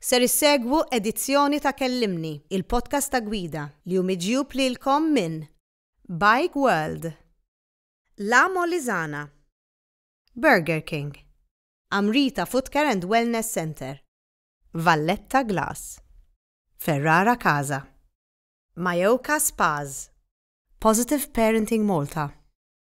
Ser issegwu edizzjoni ta' Kellimni, il-podcast ta' gwida, li hu miġjub lilkom minn Bike World, La Molisana, Burger King, Amrita Footcare and Wellness Centre, Valletta Glass, Ferrara Casa, Mayoka Spas, Positive Parenting Malta,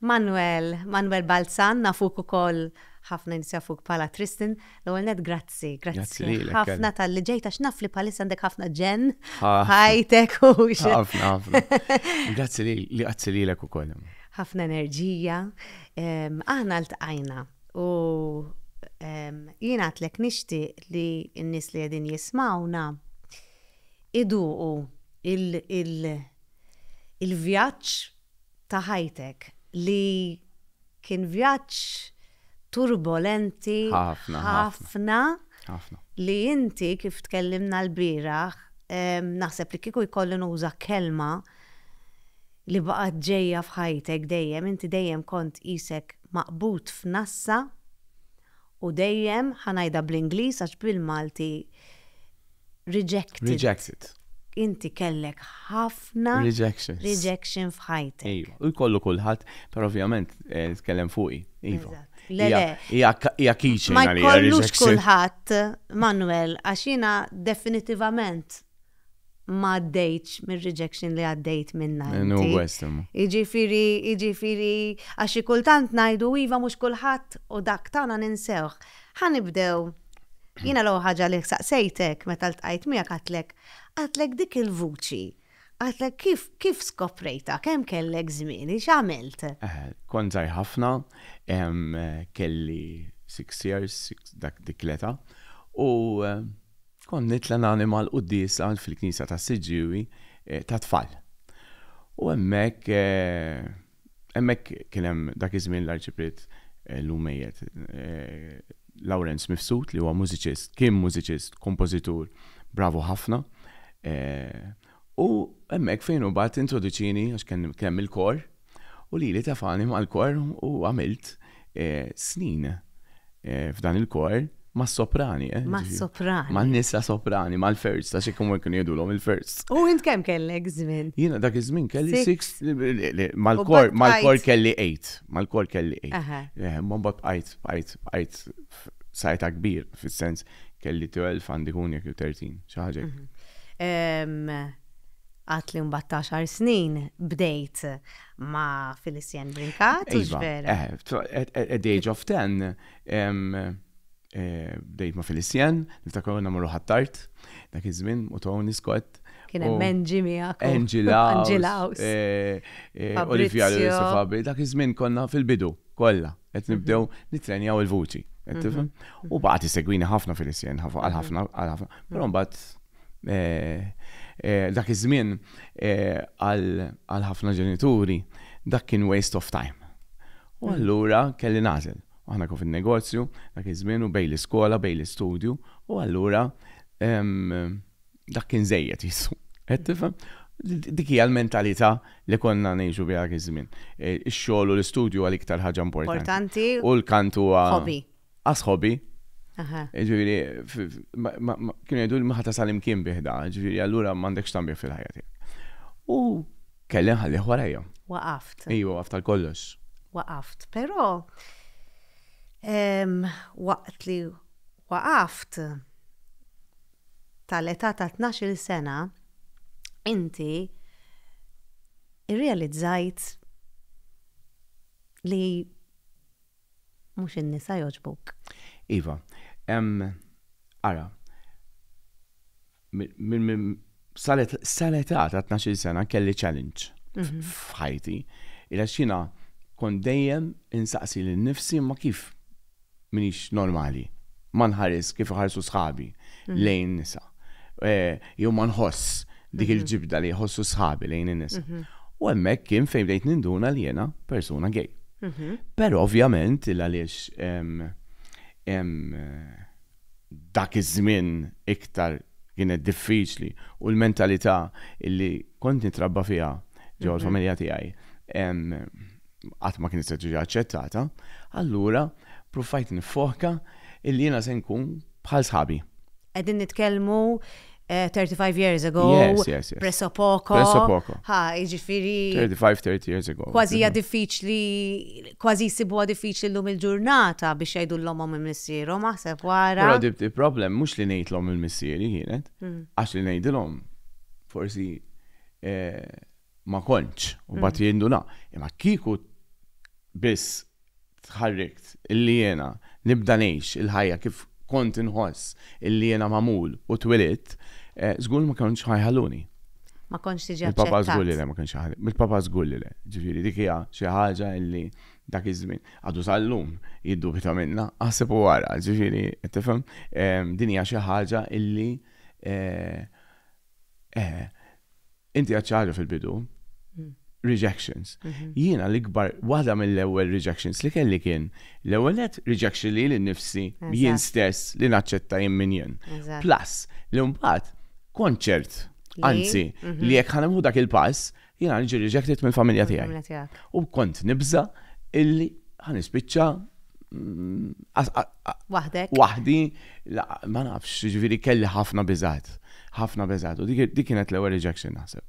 Manuel, Manuel Balzan, nafuk ukoll, ħafna nies jafuk bħala Tristan. L-ewwel nett grazzi, grazzi ħafna talli ġejt għax naf li bħalissa għandek ħafna ġenn f'ħajtek u Ħafna, ħafna. Grazzi li grazzi lilek ukoll. Ħafna enerġija. Aħna ltqajna u jien għadtlek nixtieq li n-nies li qegħdin jismgħuna iduqu il-vjaġġ ta' ħajtek li kien vjaġġ turbolenti ħafna li inti kif tkellimna lbieraħ naħseb li kieku jkolli nuża kelma li baqgħet ġejja f'ħajtek dejjem inti dejjem kont qisek maqbud f'nassa u dejjem, ħa ngħidha bl-Ingliż għax bil-Malti rejected. Rejected. Inti kellek ħafna rejections. Rejection f'ħajtek. Iva, u jkollu kulħadd, però ovvjament eh, tkellem fuqi. Iva. Le, le. Hija kiċi Ma jkollux kulħadd, Manuel, għax jiena definitivament ma għaddejtx mir-rejection li għaddejt minna. Iġifiri, iġifiri, għax kultant najdu iva mux kullħat u dak tana ninsewħ. Ħa nibdew. Jiena l-ewwel ħaġa li saqsejtek meta ltqajt miegħek għedtlek, għedtlek dik il-vuċi, għedtlek kif kif skoprejtha, kemm kellek żmien, x'għamilt? Kont żgħir ħafna, kelli six years, dik l-età, u kont nitla' nagħmel mal-quddiesa fil-knisja tas-Siġġiewi tat-tfal. U hemmhekk Hemmhekk kien hemm dak iż-żmien l-Arċipriet llum mejjet Lawrenz Mifsud li huwa mużiċist, kien mużiċist, kompożitur bravu ħafna. U hemmhekk fejn hu mbagħad introduċieni għax kien hemm il-kor u lili tefagħni mal-kor u għamilt snin f'dan il-kor mas-soprani. Eh, mas-soprani. Man-nisa soprani, mal-first, ta' xi kumur kienu jidulhom il-first. U int kemm kellek żmien? Jiena dak iż-żmien kelli six mal-kor mal-kor kelli eight, mal-kor kelli eight. Eh, ma mbagħad bqajt bqajt bqajt sajta kbir fis-sens kelli 12 għandi kun jekk 13 xi ħaġa. Mhm. Għatli mbagħad ta' xar snin bdejt ma' Felicien Brincat, u iva, vera. Eh, at the age of 10, eh, bdejt ma' Felicien, niftakar għonna morru ħattart, dak iż-żmien, u Tony Scott. Kien hemm Angie miegħek. Angela. Angela. Eh, eh, Olivia Lewis Fabri, dak iż-żmien konna fil-bidu kollha qed mhm. nibdew nitrenjaw il-vuċi. Mhm. U baqgħet segwini ħafna Felicien, għal ħafna, għal ħafna. Però mbagħad Dak iż-żmien għal ħafna ġenituri dak kien waste of time. U allura kelli nagħżel. Aħna kif in-negozju dak iż-żmien u bejn l-iskola, bejn l-istudju, u allura dak kien żejjed jissu. Qed tifhem? Dik hija l-mentalità li konna ngħixu biha dak iż-żmien. Ix-xogħol u l-istudju huwa l-iktar ħaġa importanti. U l-kant huwa. Hobby. asħobi. Ġifieri, kienu jgħidu li ma tasal imkien biħda, ġifieri allura m'għandekx tagħmel fil-ħajja tiegħek. U kelli nħallih warajja. Waqaft. Ejju, waqaft tal kollox. Waqaft, però waqt li waqaft tal-età ta' 12 sena, inti irrealizzajt li Mhux in-nisa jogħġbuk. Iva, hemm ara sal-età ta' 12 sena kelli challenge mhm. f'ħajti. Ila xina kont dejjem insaqsi lil nifsi ma kif minix normali. ma nħarisx kif iħarsu sħabi lejn in-nisa. Jew ma nħoss dik il-ġibda li jħossu sħabi lejn in-nisa. U hemmhekk kien fejn bdejt ninduna li jiena persuna gay. Però ovvjament il għaliex dak iż-żmien iktar kienet diffiċli u l-mentalità li kont nitrabba fiha ġewwa l-familja tiegħi, qatt ma kienet se tiġi aċċettata, allura prufajt nifoka illi jiena se nkun bħal sħabi. Qegħdin nitkellmu 35 eh, years ago, yes, yes, yes. presso poco. Presso poco. Ha, iġifiri. 35-30 years ago. Kważi hija diffiċli, kważi jsibuha diffiċli llum il-ġurnata biex jgħidu l-lomhom il-missierhom, aħseb wara. Però dib il-problem mhux li ngħidlhom il-missieri kienet, mm. għax li ngħidilhom forsi eh, ma kontx, u mbagħad jinduna. Imma kieku biss tħarrikt illi jiena nibda ngħix il-ħajja kif kont inħoss illi jiena magħmul u twilidt, żgur li ma kontx ħa jħalluni. Ma kontx tiġi aċċettat. Il-papa żgur li le ma kienx iħallini. Il-papa żgur li le. Ġifieri dik hija xi ħaġa illi dak iż-żmien għadu sal-lum jiddubita minnha, aħseb u ara, ġifieri qed tifhem, din hija xi ħaġa illi Inti għad ċaħġa fil-bidu, rejections. Mhm. Jiena l-ikbar, waħda mill-ewwel rejections li kelli kien l-ewwel net rejection li l-nifsi jien stess li naċċetta jien min jien. Plus, li mbagħad konċert, anzi, mhm. li jekk ħanemħu dak il-pass, jiena nġi rejected mill-familja tiegħi. U kont nibża illi ħanispiċċa Waħdek? Waħdi, ma nafx, ġviri kelli ħafna bizat. ħafna bizat. U dik kienet l-ewwel rejection naħseb.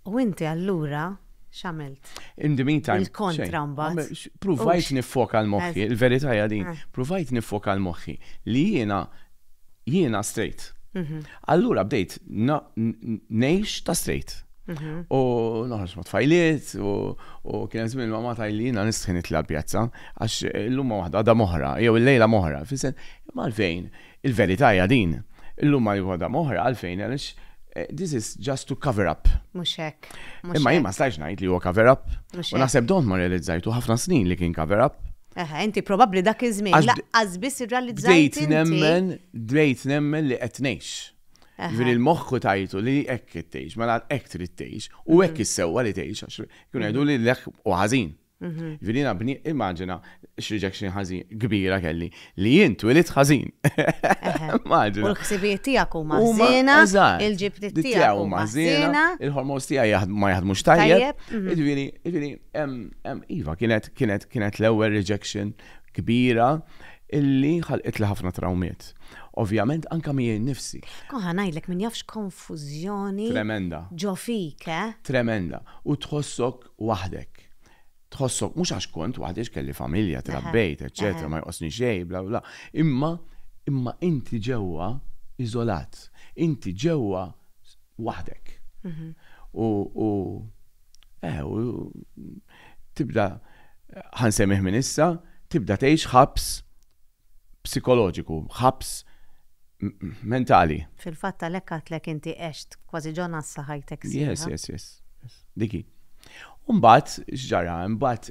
U inti allura xamilt? In the meantime. Il-kontra mbagħad. Provajt nifoka l-moħħi, il-verità hija din. Eh. Provajt nifoka l-moħħi li jiena jiena straight. Allura bdejt ngħix ta' straight. U noħroġ ma' tfajliet u kien hemm żmien ma' tajli jiena nistħin nitla' l-pjazza għax illum ma' waħda għadha moħra jew illejla moħra. Fisen, imma għalfejn il-verità hija din. Illum ma' waħda moħra għalfejn għaliex this is just to cover up. Mhux hekk. Imma jien ma stajtx ngħid li huwa cover up. U naħseb dont ma rrealizzajtu ħafna snin li kien cover up. Eħe, inti probabbli dak iż-żmien laqqas biss irrealizzajt. Bdejt nemmen, bdejt nemmen li qed ngħix. Ġifieri l-moħħ ku tajtu li hekk qed tgħix, mela hekk trid tgħix u hekk issewwa li tgħix għax kienu jgħidu li l-ek u ħażin. Ġifieri jiena bni immaġina x'rejection ħażin kbira kelli li jien twilit ħażin. Immaġina. U l-ħsibijiet tiegħek huma ħżiena, il-ġibti tiegħek huma ħżiena, il-ħormos tiegħi ma jaħdmux tajjeb. Ġifieri, ġifieri, iva kienet Kienet kienet l-ewwel rejection kbira illi ħalqitli ħafna trawmiet. Ovvjament anke miegħi nnifsi. Koha ngħidlek min jaf x'konfużjoni. Tremenda. Ġo fik, eh? Tremenda. U tħossok waħdek. Tħossok mhux għax kont waħdi għax kelli familja, trabbejt, eċċetera, ma jqosni xejn, bla bla. Imma imma inti ġewwa iżolat. Inti ġewwa waħdek. U u Eh, u tibda ħansemmih minn issa, tibda tgħix ħabs psikoloġiku, ħabs mentali. Fil-fatt għalhekk għatlek inti għext kważi ġon għassa ħajtek sieħa. Yes, yes, yes. Diki. Umbat, xġara, umbat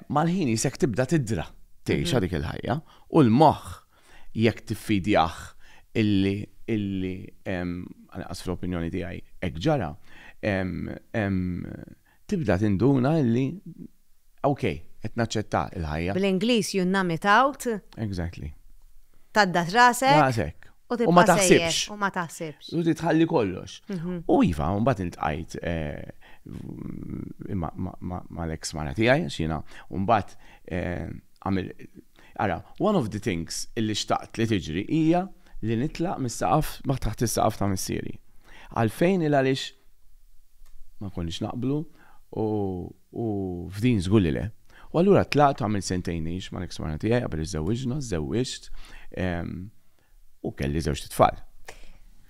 Mal-ħin jisek tibda tidra, tgħixha dik il-ħajja, u l-moħħ jekk tiffidjah illi, illi, anqas fl-opinjoni tiegħi hekk ġara, tibda tinduna illi, ok, qed naċċetta l-ħajja. Bl-Ingliż you numb it out. Exactly. Tgħaddat rasek. Rasek. U ma taħsibx. U ma taħsibx. U titħalli kollox. Mhm. U iva, un bat intqajt eh, ma l-ex mara tijaj, xina, un bat eh, għamil. Ara, one of the things illi xtaqt li tiġri hija li nitlaq mis-saqaf, ma taħt is-saqaf ta' missieri. Għalfejn il għalix ma konniex naqblu u U f'din żgur li le. U allura tlaqt u għamilt sentejn ngħix mal-eks mara tiegħi qabel iżżewwiġna, żżewwiġt u kelli żewġt itfal.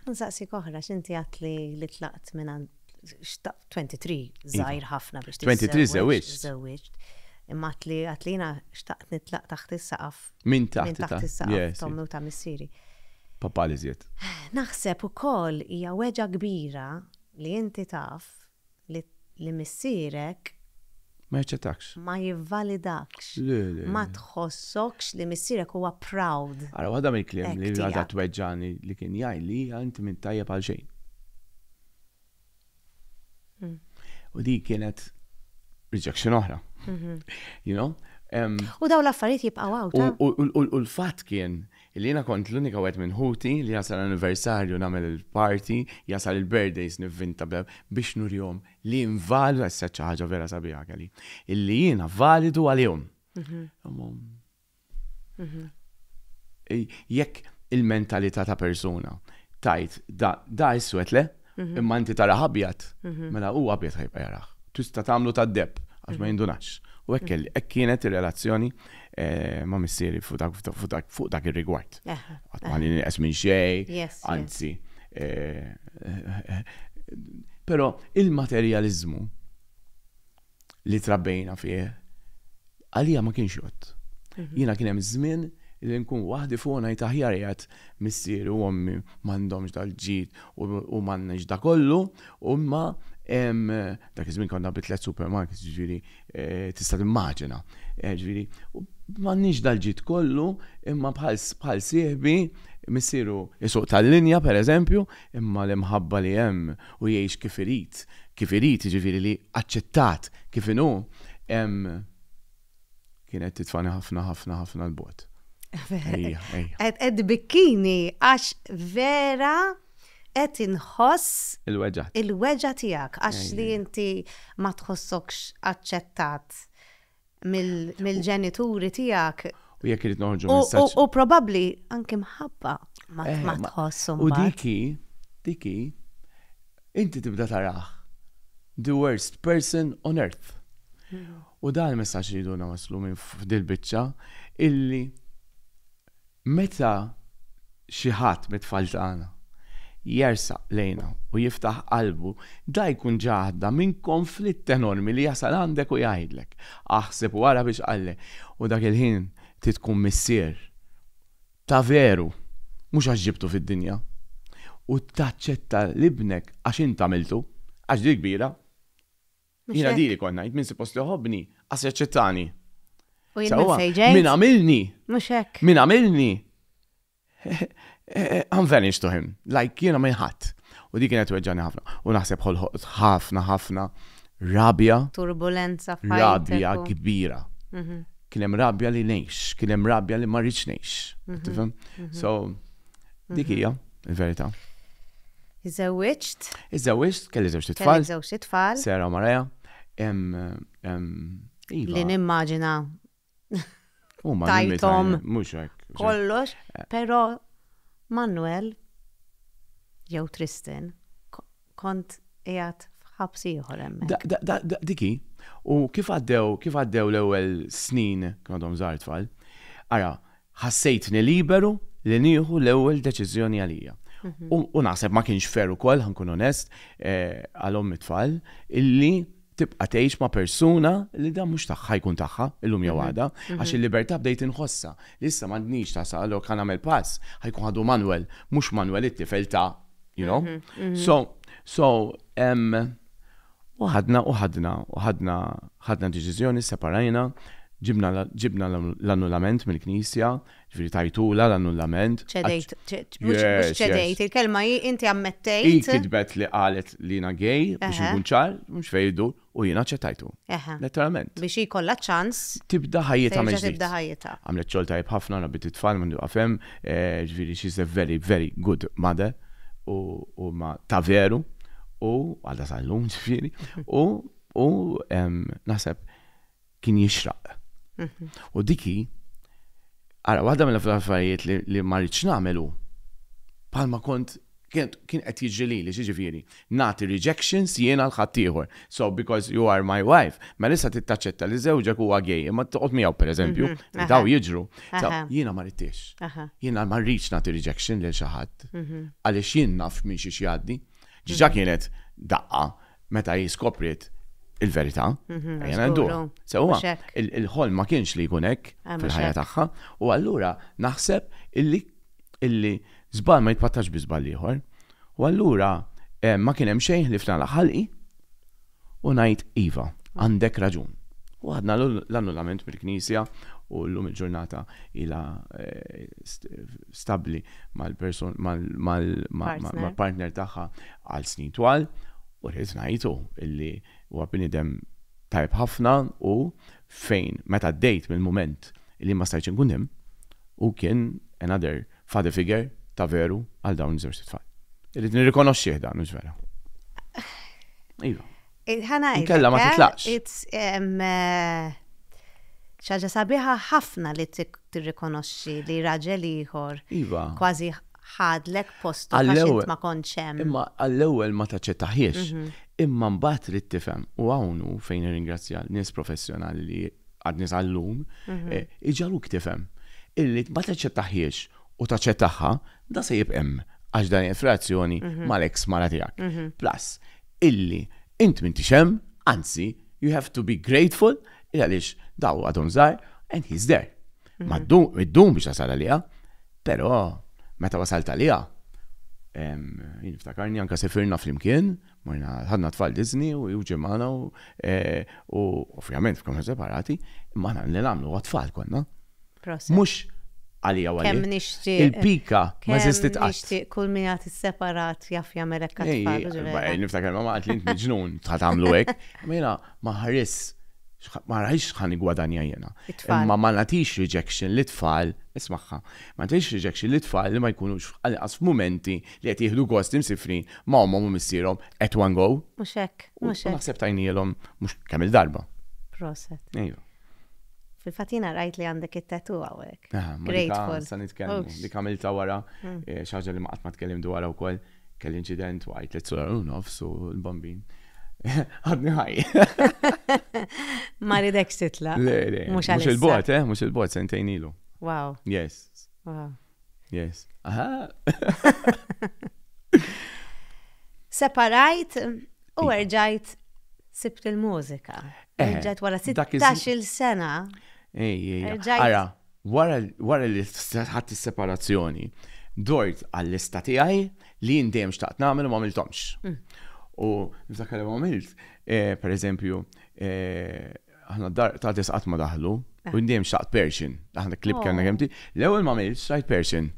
Insaqsik oħra, x'inti għedt li tlaqt mingħand 23 żgħir ħafna biex tiżżewwiġ. 23 żżewwiġt. Żżewwiġt. Imma għedt li jiena xtaqt nitlaq taħt is-saqaf. Minn taħt is-saqaf ta' ommi u ta' missieri. Papà l-iżjed. Naħseb ukoll hija weġgħa kbira li inti taf li li missierek. Ma jaċċettakx. Ma jivvalidakx. Le, le. Ma tħossokx li missierek huwa proud. Ara waħda mill-kliem li għadha tweġġagħni li kien jgħidli hija inti m'int tajjeb għal xejn. U dik kienet rejection oħra. You know? U dawn l-affarijiet jibqgħu hawn. U l-fatt kien Illi jiena kont l-unika wieħed minn ħuti li jasal l-anniversarju nagħmel il-party, jasal il-birthdays nivvinta biex nurihom li jien validu, issa għedt xi ħaġa vera sabiħa Kelly, illi jiena validu għalihom. Jekk il-mentalità ta' persuna tgħid da iswed le, Mhm. Imma inti tara ħabjat, mhm. mela u ħabjat ħajbqa jaraħ. Tista tagħmlu ta' deb għax ma mhm. jindunax. U hekk kelli, hekk kienet ir-relazzjoni eh, ma' missieri fuq dak ir-rigward. Qatt ma li nieqes minn xejn, anzi. Eh, eh, però il-materjaliżmu li trabbejna fih, għalija ma kienx jott. Mhm. Jiena kien hemm żmien li nkun waħdi fuq ngħid aħjar jgħat missier u ommi m'għandhomx dal-ġid u m'għandniex da kollu, u imma dak iż-żmien konna bi tliet supermarkets ġifieri eh, tista' timmaġina. Eh, ġifieri, m'għandniex dal-ġid kollu imma bħal sieħbi missieru jisuq tal-linja pereżempju, imma l-imħabba li hemm u jgħix kif irid, kif irid jiġifieri li aċċettat kif inhu, hemm kienet titfagħni ħafna ħafna ħafna 'l bogħod. Ejja, ejja. Qed qed tbikkini għax vera qed inħoss Il-weġgħa. il-weġgħa tiegħek għax li Ejja. inti ma tħossokx aċċettat. mill-ġenituri tiegħek. U jekk irid noħorġu messaġġ. U probabbli anke mħabba ma eh, tħossum. U diki, diki, inti tibda taraħ the worst person on earth. Hmm. U dan il-messaġġ li jiduna waslu minn f'dil biċċa illi Meta xi ħadd mit-tfal tagħna jersaq lejna u jiftaħ qalbu, da jkun ġahda minn konflitt enormi li jasal għandek u jgħidlek, Aħseb u ara biex qalli! U dak il-ħin trid tkun missier ta' veru, mhux għax ġibtu fid-dinja, u taċċetta 'l ibnek għax int għamiltu, għax di kbira. Jina diri kon najt minn suppost li ħobni, għas jaċċettani. U jina sejġej. Min għamilni. Muxek. Min għamilni. I'm vanished to him. Like jina minn ħadd. U dik kienet weġġani ħafna. U naħseb ħolħot ħafna ħafna rabja. Turbulenza fajn. Rabja kbira. Mhm. Kien hemm rabja li ngħix, kien hemm rabja li ma rridx ngħix. Mhm. Mhm. So dik hija il-verità. Iżżewwiġt. Iżżewwiġt, kelli żewġt itfal. Kellek żewġt itfal. Sarah u Mariah. Iva. Li nimmaġina. Huma tajthom. Mhux hekk. Kollox, eh. però Manuel jew Tristan kont qiegħed f'ħabs ieħor hemmhekk. Diki, u kif għaddew kif għaddew l-ewwel snin kien għadhom żgħar tfal. Ara, ħassejtni liberu li nieħu l-ewwel deċiżjoni għalija. U naħseb ma kienx fer ukoll, ħankun onest, eh, għal ommi tfal, illi tibqa' tgħix ma' persuna li dan mhux tagħha jkun tagħha illum jew mhm. għada, mhm. għax il-libertà bdejt inħossha. Li issa m'għandniex ta' salok kan nagħmel pass, ħajkun ħadu Manuel, mhux Manuel it-tifel ta' you know. Mhm, so, so, U ħadna u ħadna u ħadna ħadna deċiżjoni, sseparajna, ġibna ġibna l-annullament mill-Knisja, jiġifieri tajtulha l-annullament. Ċedejt, mhux mhux ċedejt, il-kelma hi inti ammettejt. Hi kitbet li qalet li jiena gay biex inkun ċar, mhux fejn idur, u jiena aċċettajtu. Letteralment. Biex hi jkollha ċ-ċans. Tibda ħajjitha mill-ġdid. Terġa' tibda ħajjitha. Għamlet xogħol tajjeb ħafna, rabbiet it-tfal, m'għandu jieqaf hemm. Jiġifieri she's a very, very good mother u omm ta' veru u għadha sal-lum jiġifieri u u naħseb kien jixraq. U dik hi ara waħda mill-affarijiet li ma rridx nagħmel hu bħalma kont kien qed jiġri lili x'jiġifieri nagħti rejections jien għal ħaddieħor. So because you are my wife, mela issa trid taċċetta li żewġek huwa gay imma toqgħod miegħu pereżempju, li daw jiġru. Jiena ma ridtiex. Jiena ma rridx nagħti rejection lil xi ħadd għaliex jien naf minn xiex jgħaddi. Ġiġa kienet daqqa meta hi skopriet il-verità. Jena ndu. Sewa, il-ħol ma kienx li jkun hekk ah, fil-ħajja tagħha u allura naħseb illi illi żball ma jitpattax bi żball ieħor. U allura ma kien hemm xejn ħlief nagħlaq ħalqi u ngħid iva, għandek raġun. U għadna l-annullament mill-Knisja u llum il-ġurnata ila eh, stabbli mal-partner tagħha għal snin twal u rrid ngħidu illi huwa bniedem tajb ħafna u fejn meta dejt mill-mument li ma stajtx inkun hemm u kien another Father figure, ta' veru, għal dawn iż-żewġt tfal. Irrid nirrikonoxxih dan, mhux vera. Iva. Kella ma eh? titlaqx. Eh, ċaġa sabiħa ħafna li tirrikonoxxi li raġel ieħor. Iva. Kważi ħadlek postu għax ma konċem. Imma għall-ewwel ma taċċettaħiex. Mhm. Imma mbagħad trid tifhem u hawn fejn irringrazzja nies professjonali li għadni tal-lum, mhm. eh, iġaluk tifhem illi ma taċċettaħiex u taċċettaħħa da se jibqem għax dan infrazzjoni mhm. mal-ex mara tiegħek. Mhm. Plus, illi int minn tixem, anzi, you have to be grateful il għaliex daw għadhom żgħar and he's there. Ma ddum biex tasal għalija, però meta wasalt għalija, niftakarni anka sefirna fl-imkien, Morna, ħadna t-tfal Disney u ġie magħna u ovvjament f'kamra separati, imma aħna li nagħmlu għat-tfal konna. Proset. Mhux għalija għalija. Kemm nixtieq. Il-pika ma żistit qatt. Nixtieq kull min jagħti separat jaf jagħmel hekk għat-tfal. Niftakar ma għad li int miġnun ta' tagħmlu hekk. Ma jiena ma ħares ma rajx ħan gwadanja jena. Ma ma natix rejection li tfal, ismaħħa, ma natix rejection li tfal li ma jkunux għal-qas f'mumenti li qed jieħdu gost imsiffrin ma' ommhom u missierhom at one go. Mhux hekk, mhux hekk. U naħseb tajnielhom mhux kemm il-darba. Proset. Ejju. Fil-fatina rajt li għandek it-tatu għawek. Grateful. Sa nitkellmu. Li kamilta wara, mm. eh, xaġa li maqat ma tkellim dwar u koll, kell incident u għajt li t-sura u nofs u l-bambin. Għadni ħaj. Ma ridek sitla. Le, le. Mux il-bot, eh, mux il-bot, sentejn ilu. Wow. Yes. Wow. Yes. Aha. Separajt u iva. erġajt sibt il-mużika. Eh, erġajt wara 16 sena. Ej, ej, ara, wara li ħadd is-separazzjoni, dort għall-lista tiegħi li jien dejjem xtaqt nagħmel u ma għamiltomx. Mm. U niftakar li għamilt, eh, per eżempju, eh, aħna d-dar ta' tis qatt ma daħlu, u jindi hemm xaqt Persian. Aħna klib oh. kellna kemti. L-ewwel ma għamilx rajt Persian.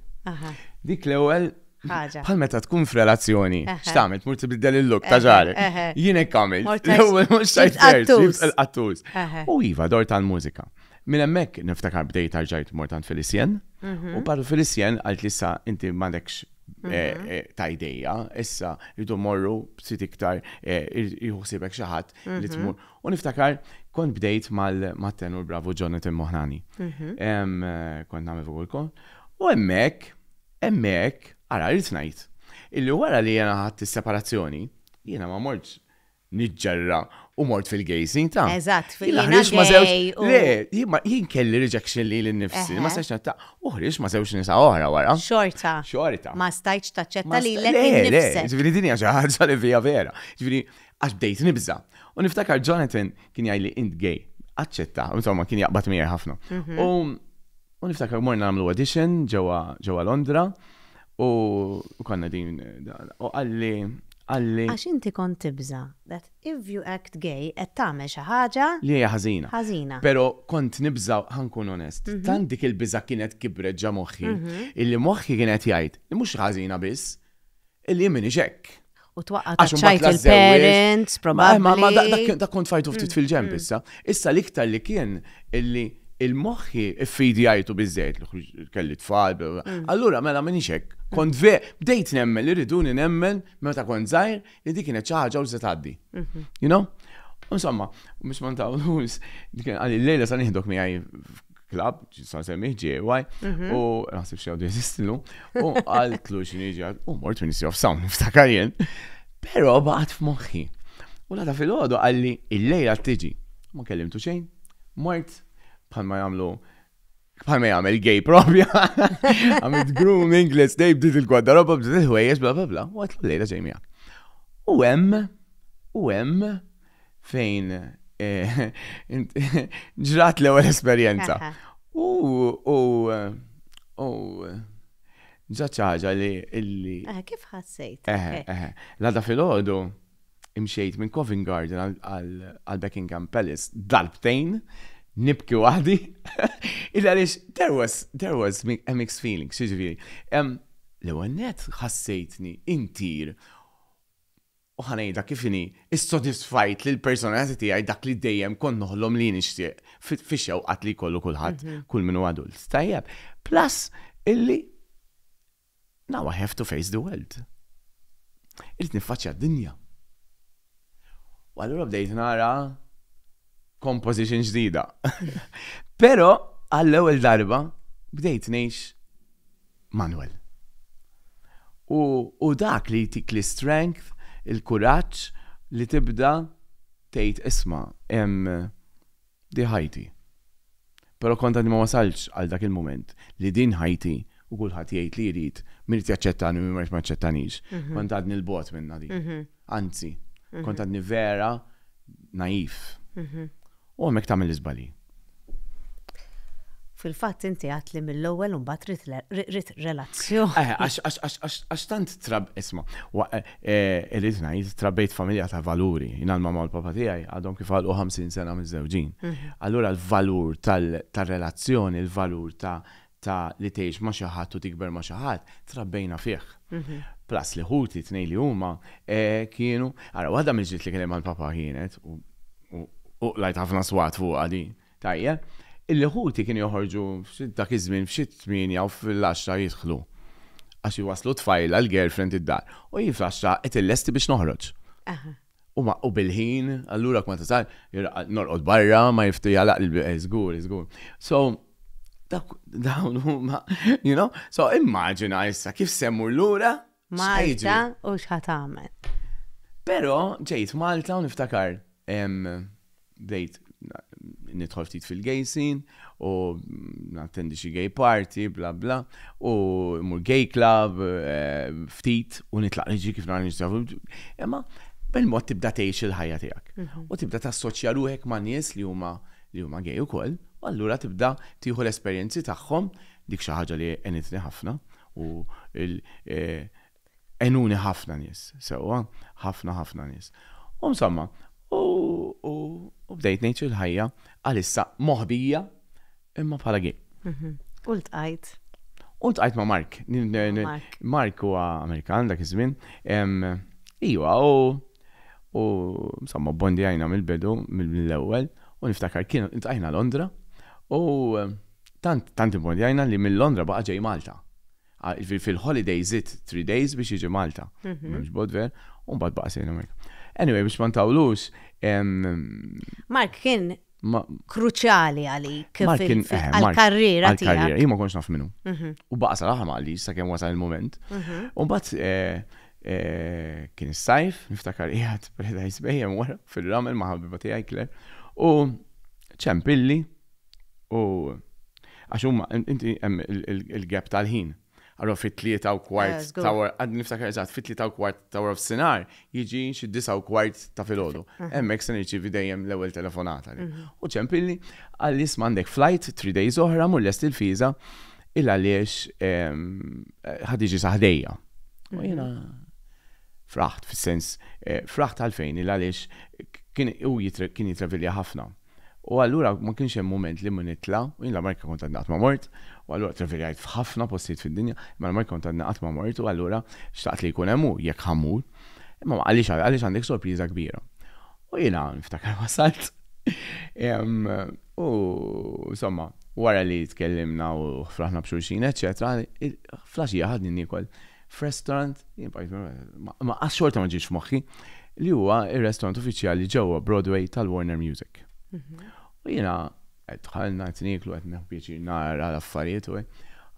Dik l-ewwel ħaġa. Bħal meta tkun f'relazzjoni, x'tagħmel tmur tibdel il-lok ta' ġarek. Jien hekk għamil. L-ewwel mhux tajt il-qattus. U iva dor tal-mużika. Minn hemmhekk niftakar bdejt tarġajt mortant Felicien. Mhm. U par Felicien għalt li sa inti m'għandekx mhm. eh, eh, ta' ideja, issa jridu morru b'sit iktar eh, jħuħsibek xi ħadd li mhm. tmur U niftakar, kont bdejt mal-tenur bravu Jonathan Moħrani. Kont nagħmel fuq il-kon. U hemmhekk, hemmhekk, ara rrid ngħid, illi wara li jena ħadd is-separazzjoni, jiena ma mortx niġġerra u mort fil-gejsin ta'. Eżatt, fil-gejsin. Le, jien kelli rejection li l-nifsi, ma stajċ ta' uħriġ ma sewx nisa oħra wara. Xorta. Xorta. Ma stajċ ta' ċetta li l-nifsi. Le, ġviri dinja ġaħġa li fija vera. Ġviri, Għax bdejt nibża'. U niftakar Jonathan kien jgħidli int gay. Aċċetta, insomma kien jaqbad miegħi ħafna. Mhm. U niftakar morna nagħmlu audition ġewwa Londra u konna din u qalli qalli. Għax inti kont tibża' that if you act gay qed tagħmel xi ħaġa. Li hija ħażina. Ħażina. Però kont nibża' ħankun onest. Mhm. Tant dik il-biża' kienet kibret ġa moħħi mhm. illi moħħi kien qed jgħid li mhux ħażina biss Illi minix hekk. U twaqqa Għax imbagħad taċċajt lażżewwiex. il-parents, Ma- ma- ma da- probabbli. dak kien- dak kont fajtu ftit fil-ġemp issa. Issa l-iktar li kien illi il-moħħi ffidjajtu biżżejjed li ħruġ- kelli tfal. bla- bla. Allura mela minix hekk. Kont ve, bdejt nemmen li riduni nemmen meta kont żgħir li dik kienet xi ħaġa u se tgħaddi. You know? Insomma, biex ma ntawlux, dik kien għalli l-lejla sa nieħdok miegħi klab, ġisan semmiħ ġewaj, mhm. u naħseb xie għadu jesistilu, u għaltlu xinġi għad, u mort Ministry of Sound, niftakar jen, pero baqat f'moħħi. U lada fil-ħodu għalli il-lejla t-tiġi, ma kellimtu xejn, mort, bħal ma jamlu bħal ma jagħmel gay propja. Għamil grooming, let's day, bdiet il-gwaddaroba, bdiet il-ħwejjeġ, bla bla bla, u għatlu lejla ġejmija. U hemm, u hemm, fejn eh, ġrat l-ewwel esperjenza. U u u ġat ċaġa li illi. Eh, kif ħassejt? Eh, eh. Lada fil-ħodu imxejt minn Covent Garden għal Buckingham Palace darbtejn nibki waħdi. Illa għaliex, there was, there was a mixed feeling, xieġviri. L-ewwel net ħassejtni intir u ħa ngħidha kif inhi, issodisfajt lill-personalità tiegħi dak li dejjem kont noħlom li nixtieq fix-xewqat li jkollu kulħadd, kull min hu adult. Tajjeb? Plus illi now I have to face the world. Irrid niffaċċja d-dinja. U allura bdejt nara composition ġdida. Pero għall-ewwel darba bdejt ngħix Manuel. U, u dak li jtik li strength, il-kuraġġ li tibda tgħid isma' hemm diħajti. Però kont għadni ma wasaltx għal dak il-mument li din ħajti u kulħadd jgħid li jrid, min irid jaċċettani u min ma jridx ma jaċċettanix. Kont għadni 'l bogħod minnha din. Anzi, kont għadni vera naif. U hemmhekk tagħmel l-iżbalji. Fil-fatt inti għedt li mill-ewwel imbagħad ridt relazzjoni. Eħe, għax tant trab, isma', Irid ngħid, trabbejt f'familja ta' valuri. Jien l-mamma u l-papa tiegħi għadhom kif għalqu 50 sena miżżewġin. Allura l-valur tar-relazzjoni, il-valur ta' li tgħix ma' xi ħadd u tikber ma' xi ħadd, trabbejna fih. Plus li ħuti, t-tnejn li huma, kienu, ara waħda mill-ġlied li kelli mal-papa kienet, u qlajt ħafna swat fuqha din, Tajjeb, il-Ħuti kienu joħorġu dak iż-żmien f'xi t-tmienja u fil-għaxra jidħlu. Għax iwasslu t-tfajla, il-girlfriend id-dar. U hi fl-għaxra qed illesti biex noħroġ. U bil-ħin, allura kma tasal, norqod barra, ma jiftu jagħlaq il-bieb, żgur, żgur. So, dawn huma, you know, so immaġina issa kif se mmur lura? Malta u x'ħa tagħmel. Però ġejt Malta u niftakar bdejt nidħol ftit fil-gejsin u nattendi xi gay party, bla bla, u mur gay club, eh, ftit, u nitlaq liġi kif nara nistafu. Imma, bil-mod tibda tgħix il-ħajja tiegħek. Mhm. U tibda tassoċja ruħek ma' nies li huma li huma gay ukoll, u allura tibda tieħu l-esperjenzi tagħhom Dik xi ħaġa li għenitni ħafna u għenuni ħafna nies sewwa, ħafna ħafna nies. U insomma, u bdejt ngħix il-ħajja għalissa moħbija imma bħala gay. Mhm. U ltqajt? U ltqajt ma' Mark. Mark huwa Amerikan dak iż-żmien. Iwa, u insomma bondi għajna mill-bidu mill-ewwel u niftakar kien ltqajna Londra u Tant, tant imbondjajna li minn Londra baqa' ġej Malta. Jiġifieri fil-holiday żidt three days biex jiġi Malta. M'hemmx bodwer, u mbagħad baqa' sejrin hemmhekk. Anyway, biex ma ntawlux, Mark kien kruċjali għalik għall-karriera tiegħek. Għall-karriera, jien ma kontx naf min hu. U baqa' sal-aħħar ma qalix sakemm wasal il-mument. U mbagħad kien is-sajf, niftakar qiegħed Paradise Bay hemm wara fir-ramel ma' ħabiba tiegħi Claire, u ċempilli, U għax huma inti hemm il-gap tal-ħin. Allora fit-tlieta u kwart eh, ta' wara, għad niftakar eżatt, fit-tlieta u kwart ta' wara f'sinar jiġi xi disa u kwart ta' filgħodu. Hemmhekk se nirċievi dejjem l-ewwel telefonata. Mhm. U ċempilli għal isma' għandek flight three days oħra mur lest il-fiża il għaliex ehm, ħadiġi saħdejja. U mhm. jiena fraħt fis-sens eh, fraħt għalfejn il għaliex kien u kien jitravilja ħafna. U allura ma kienx hemm mument li ma nitla', u jien l-Amerika kont għadni qatt ma mort, u allura travelajt f'ħafna postijiet fid-dinja, imma l-Amerika kont għadni qatt ma mort u allura xtaqt li jkun hemm hu jekk ħa mmur. Imma għaliex għaliex għandek sorpriża kbira. U jiena niftakar wasalt u insomma wara li tkellimna u fraħna b'xulxin eċċetera, fl-għaxija ħadni niekol f'restaurant, ma qas xorta ma ġiex f'moħħi, li huwa ir-restaurant uffiċjali ġewwa Broadway tal-Warner Music. Mhm. U jiena qed dħalna qed nieklu qed neħu pjaċir nara l-affarijiet u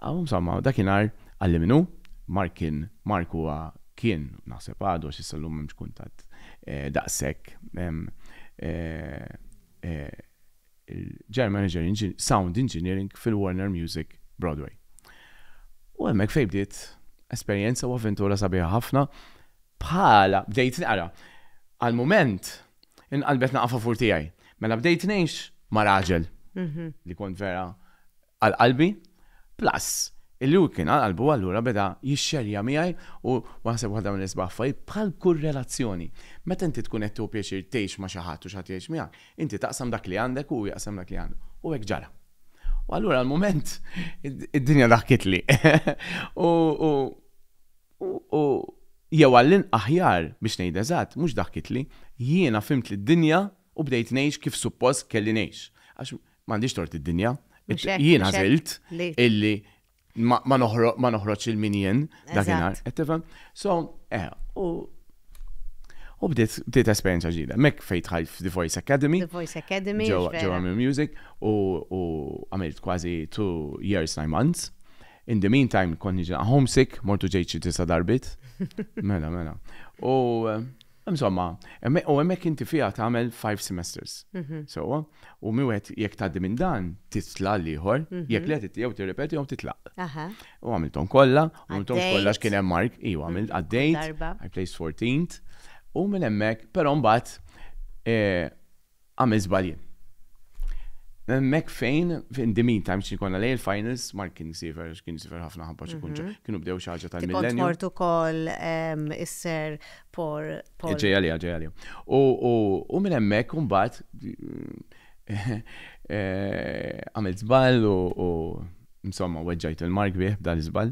Għaw samma, dakinhar għalli minnu, Mark kien Mark huwa kien naħseb għadu għax issa llum m'hemmx kuntatt eh, daqshekk eh, eh, il-General Manager in Sound Engineering fil-Warner Music Broadway. U hemmhekk fejn bdiet esperjenza u avventura sabiħa ħafna bħala bdejt naqra. Għal-mument inqalbet naqafafur tiegħi. Mela bdejt ngħix ma' raġel mhm. li kont vera Għal qalbi, plus illi hu kien għal qalbu allura beda jixxerja miegħi u naħseb waħda mill-isbaħ affarijiet bħal kull relazzjoni. Meta inti tkun qed tieħu pjaċir tgħix ma' xi ħadd u xi ħadd jgħix miegħek, inti taqsam dak li għandek u hu jaqsam dak li għandu. U hekk ġara. U allura għal mument id-dinja daħkitli u u u jew għall-inqas aħjar biex ngħid eżatt mhux daħkitli, jiena fhimt lid-dinja u bdejt ngħix kif suppost kelli ngħix. Għax M'għandix tort id-dinja. Jien għażilt illi ma noħroġ il min jien dakinhar. Qed tifhem? So, eh, u U bdiet bdiet esperjenza ġdida. Mek fejn tħajt f'The Voice Academy. The Voice Academy. Ġewwa minn music u għamilt kważi two years nine months. In the meantime konni ġa homesick, mortu ġejt xi tisa darbit. Mela, mela. U Insomma, u hemmhekk inti fiha tagħmel five semesters. Sewwa? U mi wieħed jekk tgħaddi minn dan, titla' l-ieħor, jekk le jew tirrepeti jew titlaq. U għamilthom kollha, u għamilthom kollha għax kien hemm Mark, iva, għamilt, għaddejt, I placed fourteenth, u minn hemmhekk, però mbagħad Għamilt żbalji. Hemmhekk fejn in the meantime xi jkollna lejl finals Mark kien isifer għax kien isifer ħafna ħabba xi kunċa. Kienu bdew xi ħaġa tal-millenju. Kont mort ukoll is-Sir Paul. Ġej għalija, ġej għalija. U minn hemmhekk imbagħad għamilt żball u insomma weġġajt lil Mark bih b'dan l-iżball.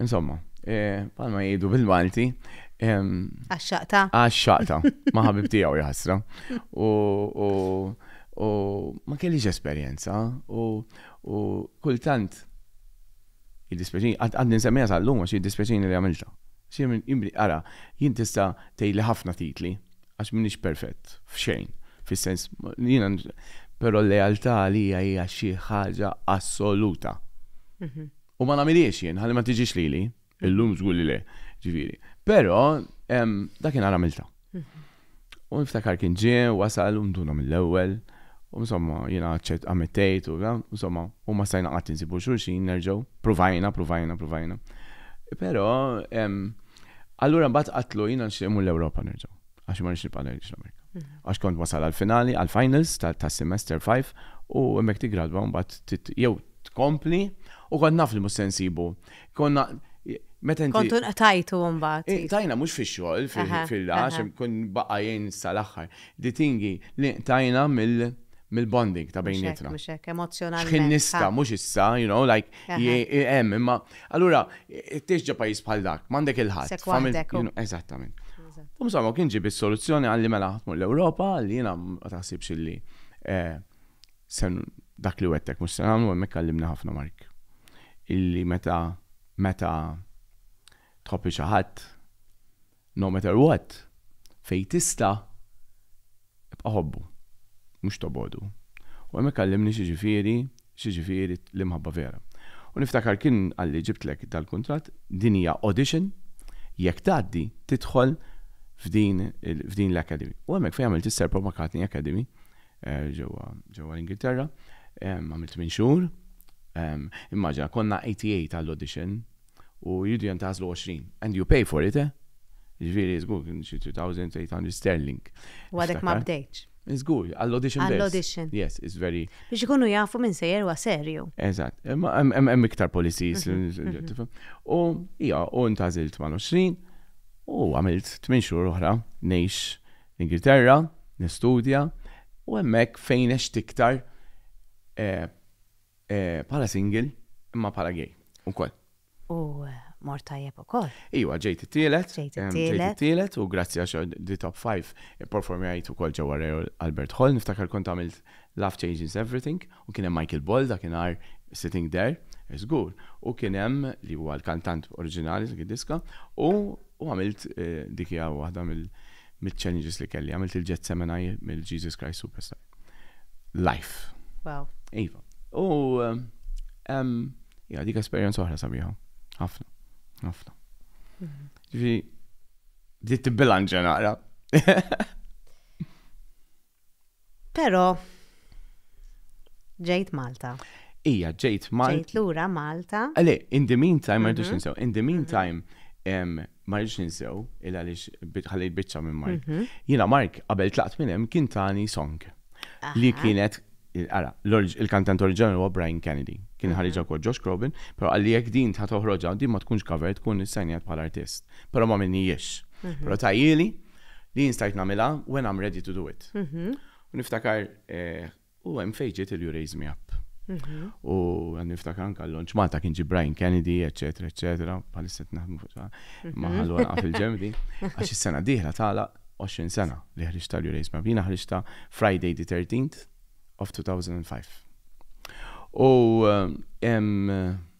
Insomma, eh, palma jgħidu bil-Malti. Għaxxaqta. Għaxxaqta, ma ħabib tiegħu jħassra. U ma kellix esperjenza u kultant jiddispeċini, għadni nsemmija sal-lum għax jiddispeċini li għamilta. Xie imbri, ara, jien tista tejli ħafna titli, għax minix perfett, f'xejn, fis-sens, jina, pero l-lealtà li hija xi ħaġa assoluta. Mhm. U ma nagħmilhiex jien ħalli ma tiġix lili. Illum żgur li le, ġifieri. Però dakinhar għamilta. Mhm. U niftakar kien ġie, wasal u mduna mill-ewwel. U insomma, jiena ċet ammettejt u insomma, u ma stajna qatt insibu xulxin nerġgħu. Provajna, provajna, provajna. Però allura mbagħad qatlu jiena nxtieq l-Ewropa nerġgħu. Għax ma nix nibqa' ngħix l-Amerika. Mhm. Għax kont wasal għal-finali, għal-finals tas-semester 5 u hemmhekk tigradwa mbagħad jew tkompli u kont naf li mhux se nsibu. Konna meta inti. Kontu nqtajtu mbagħad. Eh, tajna mhux fix-xogħol fil-lax, kun baqa' jgħin sal-aħħar. Di tingi li tajna mill- mill-bonding ta' bejnietna. Mhux hekk, emozjonalment. X'ħin nista' mhux issa, you know, like Hemm, imma allura tgħix ġa pajjiż bħal dak, m'għandek il-ħadd. Eżattament. U insomma kien ġib is-soluzzjoni għalli mela ħatmu l-Ewropa li jiena ma taħsibx illi eh, sen dak li wettek mhux se nagħmlu hemmhekk għallimni ħafna Mark. Illi meta meta tħobbi xi ħadd No matter what, fejn tista' ibqa' ħobbu, mhux tobgħodu. U hemmhekk għallimni x'jiġifieri, x'jiġifieri l-imħabba vera. U niftakar kien qalli ġibtlek dal-kuntratt, din hija audition, jekk tgħaddi tidħol f'din f'din l-academy. U hemmhekk fejn għamilt is-Sir Paul McCartney Academy ġewwa ġewwa l-Ingilterra, għamilt tmien xhur, immaġina konna 88 għall-audition, u jridu jentażlu għoxrin. And you pay for it, eh? Jiġifieri żgur kien xi 3,800 sterling. U għadek ma bdejtx. Żgur, għall-audition biss. Għall-audition. Yes, it's very. Biex ikunu jafu min sejjer huwa serju. Eżatt. Imma hemm iktar policies. U hija, u ntażilt mal-20 u għamilt 8 xhur oħra ngħix l-Ingilterra, nistudja, u hemmhekk fejn għext iktar Bħala single, imma bħala gay ukoll. U mort tajjeb ukoll. Iwa, ġejt it-tielet. Ġejt it-tielet. U grazzi għax di top 5 ipperformjajt ukoll ġewwa Royal Albert Hall. Niftakar kont għamilt Love Changes Everything u kien hemm Michael Ball dakinhar sitting there, żgur. U kien hemm li huwa l-kantant oriġinali ta' dik id-diska u għamilt dik hija waħda mill-challenges li kelli. Għamilt il-Gethsemane mill-Jesus Christ Superstar. life. Wow. Iva. U ja dik esperjenza oħra sabiħa. Ħafna. Ħafna. Mhm. Ġifi, bdiet tibbilanġa naqra. Pero, ġejt Malta. Ija, ġejt Malta. Ġejt lura Malta. Għale, in the meantime, ma mhm. rridux ninsew, in the mhm. meantime, ma rridx ninsew, il għaliex ħallejt biċċa minn Mark. Mhm. Jiena Mark qabel tlaqt minn hemm kien tani song li kienet Ara, il-kantant oriġinali huwa Brian Kennedy. Kien mhm. ħariġa kod Josh Crobin, però għalli jekk din ta' toħroġa, din ma tkunx cover, tkun issajnjat bħal artist. Però ma minni jiex. Mhm. Però tajjili li jinstajt namila when I'm ready to do it. Niftakar eh, U hemm fejn ġiet il-You Raise Me Up. U għan niftakar anka l-lonċ Malta kien ġi Brian Kennedy, eccetera, eccetera, bħalissa naħdmu fuq ta' maħallu għalqa fil-ġemdi. Għax is-sena diħla tala 20 sena li ħriġta l-You Raise Me Up. Jina ħriġta Friday the 13th of 2005. U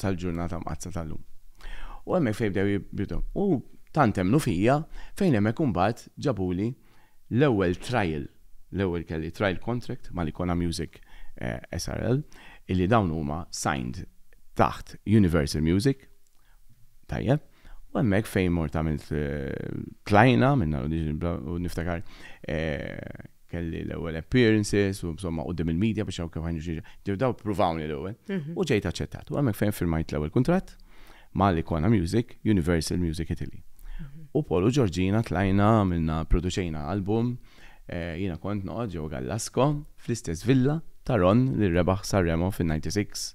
sal-ġurnata mqaddsa tal-lum. U hemmhekk fejn bdew jibdu. U tant emmnu fija fejn hemmhekk imbagħad ġabuli l-ewwel trial, l-ewwel kelli trial contract mal-Icona Music SRL illi dawn huma signed taħt Universal Music, tajjeb, U hemmhekk fejn mort għamilt tlajna minn l-audition u niftakar kelli l-ewwel appearances u insomma qudiem il-medja biex hawn kif ħajnu xi ġew daw pruvawni l-ewwel u ġejt aċċettat. U hemmhekk fejn firmajt l-ewwel kuntratt ma' l-Ikona Music, Universal Music Italy. U Paul u Georgina tlajna għamilna produċejna album, jiena kont noqgħod ġewwa Gallasco fl-istess villa ta' Ron li rebaħ Sanremo fin-'96.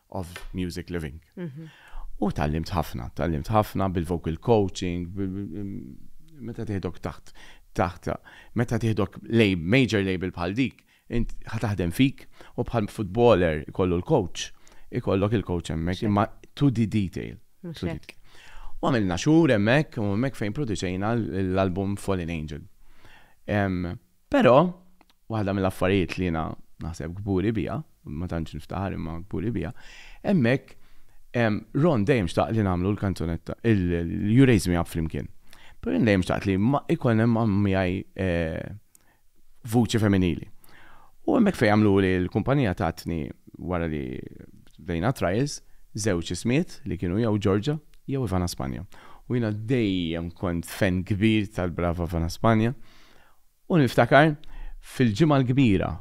of Music Living. U tgħallimt ħafna, tgħallimt ħafna bil-vocal coaching, meta tieħdok taħt taħt meta tieħdok major label bħal dik, int ħataħdem fik u bħal footballer ikollu l-coach, ikollok il-coach hemmhekk imma to the detail. U għamilna xhur hemmhekk u hemmhekk fejn produċejna l-album Fallen Angel. Però, waħda mill-affarijiet li jiena naħseb kburi biha, ma tantx niftaħar imma kburi biha, hemmhekk Ron dejjem xtaq li nagħmlu l-kanzunetta, il-You Raise Me Up flimkien. Però jien dejjem xtaqt li ikun hemm miegħi eh, vuċi femminili. U hemmhekk fejn għamlu li l-kumpanija tatni wara li bdejna trials żewġ ismiet li kienu jew Ġorġa jew Ivana Spanja. U jiena dejjem kont fen kbir tal-brava Ivana Spanja. U niftakar fil-Ġimgħa l-Kbira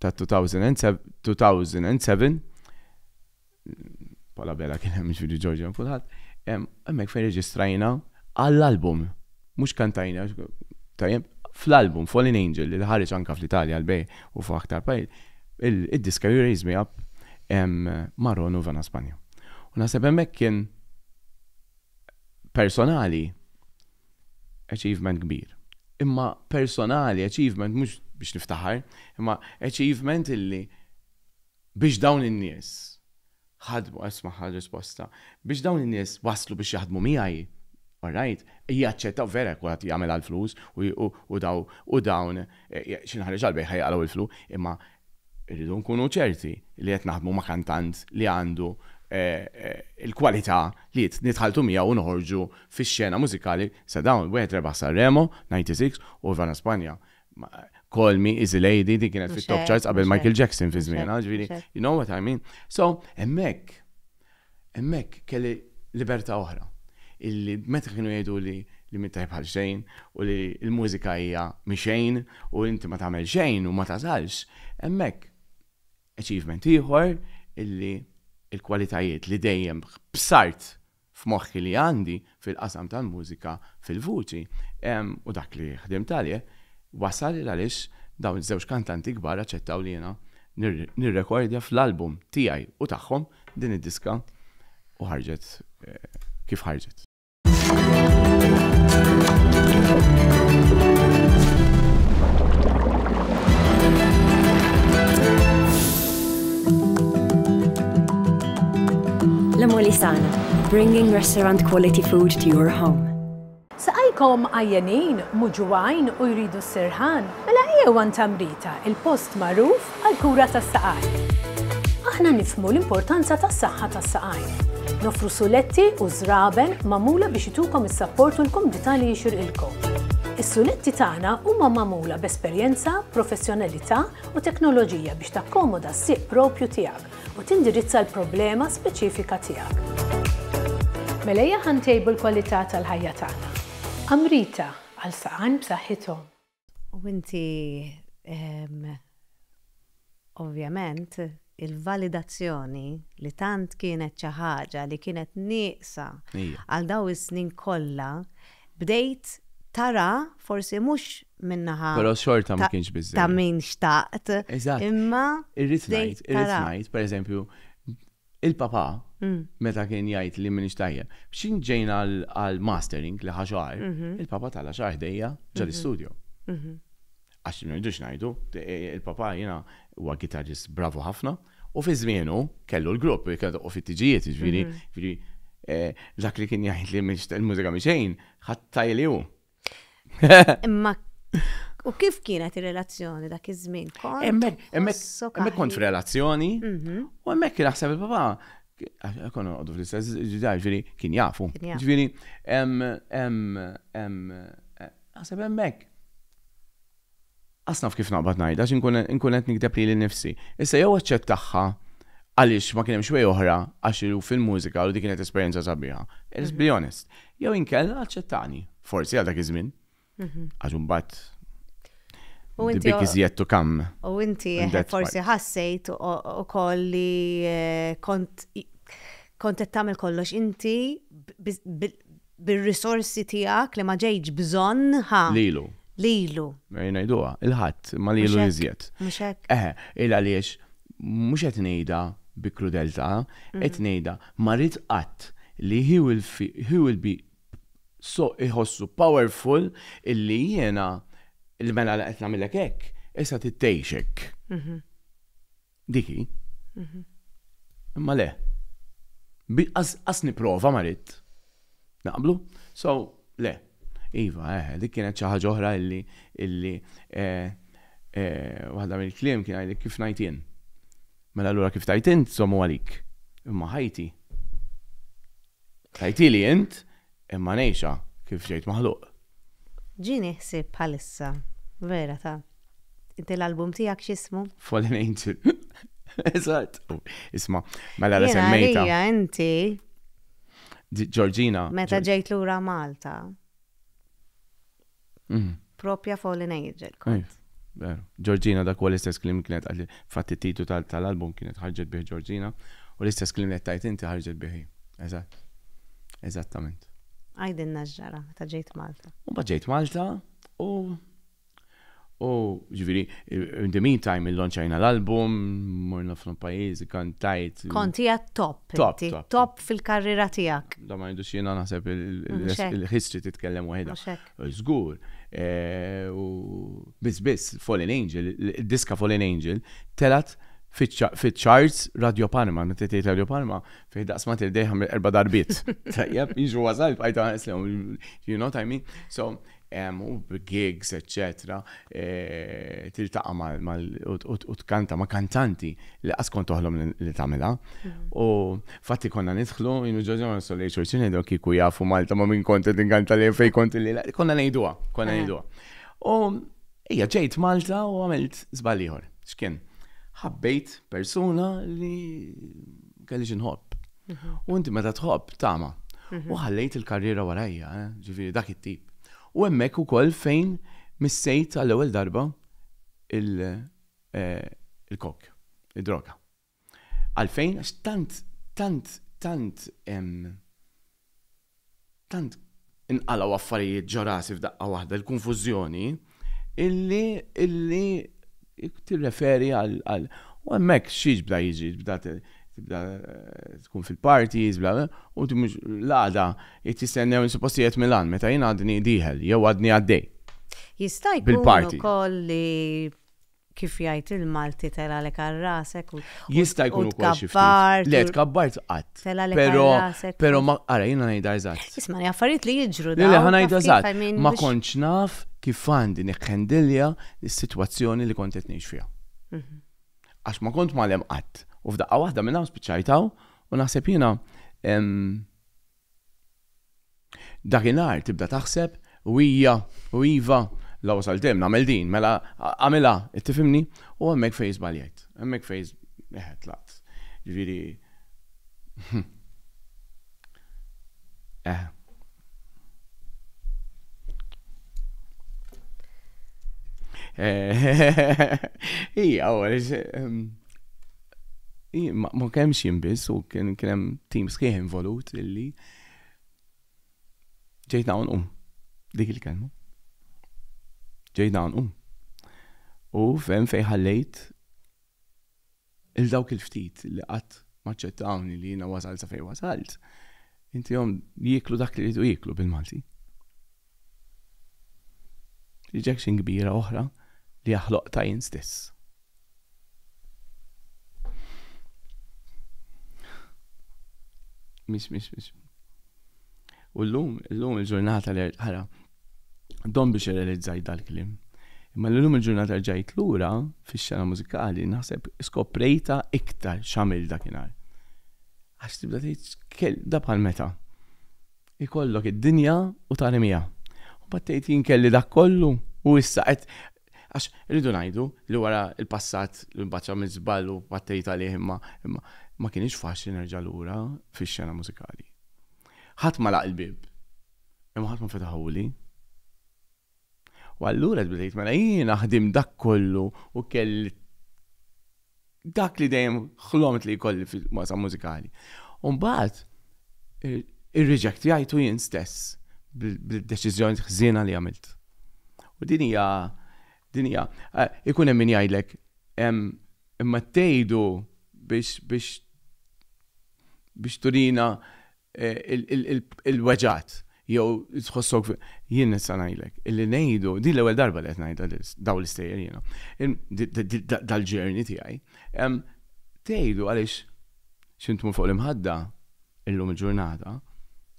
ta' 2007, Paul Abela kien hemm jiġifieri George hemm kulħadd, hemmhekk fejn reġistrajna għall-album, mhux kantajna, tajjeb, fl-album Fallen Angel li ħareġ anke fl-Italja għall-bejgħ u f'aktar pajjiż, id-diska You Raise Me Up ma' Ron u Vana Spanja. U naħseb hemmhekk kien personali, achievement kbir. Imma personali, achievement mhux biex niftaħar, imma achievement illi biex dawn in-nies ħadmu, ismagħha r-risposta, biex dawn in-nies waslu biex jaħdmu miegħi, orajt, jaċċettaw, vera jekk wieħed jagħmel għall-flus u dawn xi nħareġ għall-bejgħ ħa jaqalgħu l-flu, imma Irridu nkunu ċerti li qed naħdmu ma' kantant li għandu l-kwalità li nitħalltu miegħu u noħorġu fix-xena mużikali sa dawn. Wieħed rebaħ Sanremo, 96, u Ivana Spanja, Call Me, Easy Lady, din kienet fit-top charts qabel Michael Jackson fi żmienha, ġifieri, you know what I mean. So, hemmhekk. Hemmhekk kelli libertà oħra, illi meta kienu jgħiduli li m'int tajjeb għal xejn u li l-mużika hija mixejn u inti ma tagħmel xejn u ma tagħżalx, hemmhekk achievement ieħor illi l-kwalitajiet li dejjem b'sart f'moħħi li għandi fil-qasam tal-mużika fil-vuċi u dak li ħdimt għalih wasal 'il għaliex dawn iż-żewġ kantanti kbar aċċettaw li jiena nirrekordja fl-album tiegħi u tagħhom din id-diska u ħarġet kif ħarġet. La Molisana, bringing restaurant quality food to your home. Saqajkom għajjenin, muġuwajn u jridu s-sirħan? Mela ejjew għand Tamrita, il-post magħruf għall-kura tas-saqajn. Aħna nifhmu l-importanza tas-saħħa tas-saqajn. Noffru suletti u żraben magħmula biex itukom is-sapport u l-kumdità li jixirqilkom. Is-suletti tagħna huma magħmula b'esperjenza, professjonalità u teknoloġija biex takkomoda s-sieq proprju tiegħek. u tindirizza l-problema speċifika tiegħek. Mela ejja ħa ntejbu l-kwalità tal-ħajja tagħna. Amrita, għal saqajn b'saħħithom. U inti, ovvjament, il-validazzjoni li tant kienet xi ħaġa li kienet nieqsa għal dawn is-snin kollha, bdejt tara forsi mhux min-naħa Però xorta ma kienx biżżejjed. ta' min xtaqt. Eżatt. Imma Irrid bdejt ngħid, irrid tara. ngħid, pereżempju, il-papà meta kien jgħid li m'iniex tajjeb, biex ġejna għal għal mastering li ħa xahar, il-papà tala' xahar ħdejja ġol-istudio. Għax ma rridux ngħidu, il-papà jiena huwa guitarist bravu ħafna, U fi żmienu kellu l-grupp li kien toqgħu fit-tiġijiet, jiġifieri, jiġifieri dak li kien jgħid li l-mużika mhix xejn, ħadd li hu. Imma u kif kienet ir-relazzjoni dak iż-żmien? Hemmhekk kont f'relazzjoni mhm. u hemmhekk naħseb il-papà kon għoddu fl-istess ġidaj, ġviri, kien jafu. Ġviri, em, em, em, naħseb emmek. Qas naf kif naqbad ngħidha għax inkun inkun qed nikdeb lili nnifsi. Issa jew aċċettagħha għaliex ma kien hemmx way oħra għax hu fil-mużika u dik kienet esperjenza sabiħa. Let's be honest. Jew inkella aċċettani. Forsi għal dak iż-żmien. Għax imbagħad U the inti big is yet to come. u inti And that's forsi why. ħassejt u- ukoll li eh, kont kont qed tagħmel kollox inti bi- bi- Bir-risorsi tiegħek li ma ġejtx bżonn, ħa. Lilu. Lilu. Ejja ngħiduha, il-Ħadd, imma lilu iżjed. Mhux hekk? Eħe, il għaliex mhux qed ngħidha bi krudeltà, qed ngħidha ma rid qatt li he will he will be so iħossu powerful illi jiena li mela qed nagħmillek hekk, issa trid tgħix hekk. Dik hi. Mhm. Imma le. Qas nipprova ma ridt. Naqblu? So, le. Iva, eh, eh, dik kienet xi ħaġa oħra illi illi eh, eh, waħda mill-kliem kien għajli kif najtin. Mela allura kif tajtin tżommu għalik. Imma ħajti. Ħajti li int Imma ngħixha kif ġejt maħluq. Ġieni ħsieb bħalissa, vera ta. Inti l-album tiegħek x'ismu? Fallen Angel. Eżatt. Isma', mela la semmejta. Jiena għalija inti. Ġorġina. Meta ġejt lura Malta. Propja Fallen Angel kont. Veru. Ġorġina dak huwa l-istess klim kienet għalli fatt it-titu tal-album kienet ħarġet bih Ġorġina u l-istess klim li tajt inti ħarġet bih. Eżatt. Eżattament. Għajdilna x'ġara meta ġejt Malta. Mbagħad ġejt Malta u U, ġifieri, in the meantime illonċajna l-album, morna f'ħafna pajjiżi, kantajt. Kont qiegħed top, Top, inti, top. top fil-karriera tiegħek. Da ma ngħidux jiena naħseb il- il- Mhux hekk. il-history titkellem waħedha. Mhux hekk. Żgur. eh, U biss biss Fallen Angel, il- id-diska Fallen Angel telgħet fiċ-ċa- fiċ-charts Radio Parma, meta tgħid Radio Parma, fih daqs ma tirdejha mill-erba' darbiet. Tajjeb, jiġu wasal bqajt ħares lehom, you know what I mean? So, u b'gigs eċċetera tiltaqa' mal u tkanta ma' kantanti li qatt kont toħlom li tagħmilha. U fatti konna nidħlu jien u Ġorġa ma nistgħu lejn xulxin ngħidu kieku jafu Malta ma' min kont qed inkanta lejn fejn kont illi konna ngħiduha, konna ngħiduha. U ejja ġejt Malta u għamilt żball ieħor. X'kien? Ħabbejt persuna li Kelli xi nħobb. U inti meta tħobb tama. U ħallejt il-karriera warajja, eh, ġifieri dak it-tip. U hemmhekk ukoll fejn missejt għall-ewwel darba eh, il-kok, id-droga. Għalfejn? Għax tant, tant, tant Tant inqalgħu affarijiet ġo rasi f'daqqa waħda, il-kunfużjoni, illi, illi tirreferi għal, għal, u hemmhekk xi jibda jiġri, tibda, tibda tkun fil-parties, bla, bla, u inti mhux l-għada qed tistennew li suppost qiegħed Milan meta jien għadni dieħel jew għadni għaddej. Jista' jkun ukoll li. kif jgħid il-Malti telgħalek għal rasek u Jista' jkun ukoll xi ftit. Le tkabbart qatt. Telgħalek għal rasek. Però ma ara jiena ngħidha eżatt. Ismani affarijiet li jiġru dan. Le ħa ngħidha eżatt. Ma kontx naf kif għandi nikhandilja s-sitwazzjoni li kont qed ngħix fiha. Mhm. Għax ma kont magħlem qatt. U f'daqqa waħda minn hawn spiċċajt hawn u naħseb jiena Dakinhar tibda taħseb u hija u iva, la wasalt hemm nagħmel din, mela agħmilha, qed tifhimni? U hemmhekk fejn żbaljajt. Hemmhekk fejn eħe tlaqt. Ġifieri eħe. Hija, ma kemmx jien biss u kien hemm tim sħiħ involut illi ġejt dawn um dik il-kelma. Ġejt dawn um. U fem fej ħallejt il-dawk il-ftit li qatt maċċettawni li jiena wasal sa fej wasalt, inti jom jiklu dak li jidu jiklu bil-Malti. Rejection kbira oħra li ha ħloqtha jien stess. Mhix mhix mhix. U llum, llum il-ġurnata li ħara, dom biex irrealizzaj dal-klim. Imma l-lum il-ġurnata ġajt lura fix-xena mużikali naħseb skoprejta iktar xamil dakinhar. Għax tibda tgħid da bħal meta. Ikollok id-dinja u tarmiha. U mbagħad tgħid jien kelli dak kollu u issa qed għax irridu ngħidu li wara l-passat li mbagħad għamilt żball u battejt għalih imma imma ma kinitx faċli nerġa' lura fix-xena mużikali. Ħadd ma laq il-bieb imma ħadd ma fetaħuli. U allura tbda tgħid mela jiena ħdimt dak kollu u kelli dak li dejjem ħlomt li jkolli fil-masa mużikali. U mbagħad irriġektjajtu jien stess bil-deċiżjoni ħżiena li għamilt. U din hija din hija eh, ikun hemm min jgħidlek imma tgħidu biex biex biex turina il-weġgħat jew tħossok jien nista' ngħidlek illi ngħidu din l-ewwel darba li qed ngħidha lil dawn l-istejjer jiena. Dal-ġerni tiegħi. Tgħidu għaliex xi tmur fuq l-imħadda illum il-ġurnata,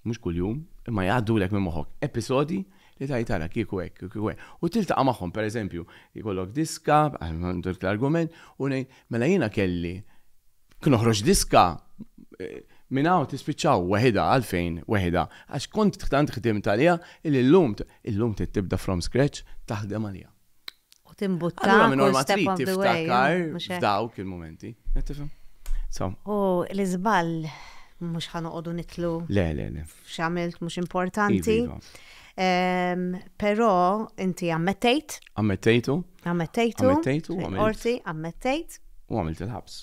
mhux kuljum, imma jgħaddulek minn moħħok episodji li tgħid ara kieku hekk, kieku hekk. U tiltaqa' magħhom, pereżempju, ikollok diska, għal ma ndur l-argument, u ngħid mela jiena kelli Kien oħroġ diska minn hawn tispiċċaw weħida għalfejn weħida għax kont tant ħdimt għaliha illi llum illum trid tibda from scratch taħdem għaliha. U timbutta. Allura minn orma trid tiftakar f'dawk il-momenti. U l-iżball mhux ħanoqogħdu nitlu. Le, le, le. x'għamilt mhux importanti. Iva, iva. Ehm, però inti ammettejt. Ammettejtu. Ammettejtu. Ammettejtu. Orti, ammettejt. U għamilt il-ħabs.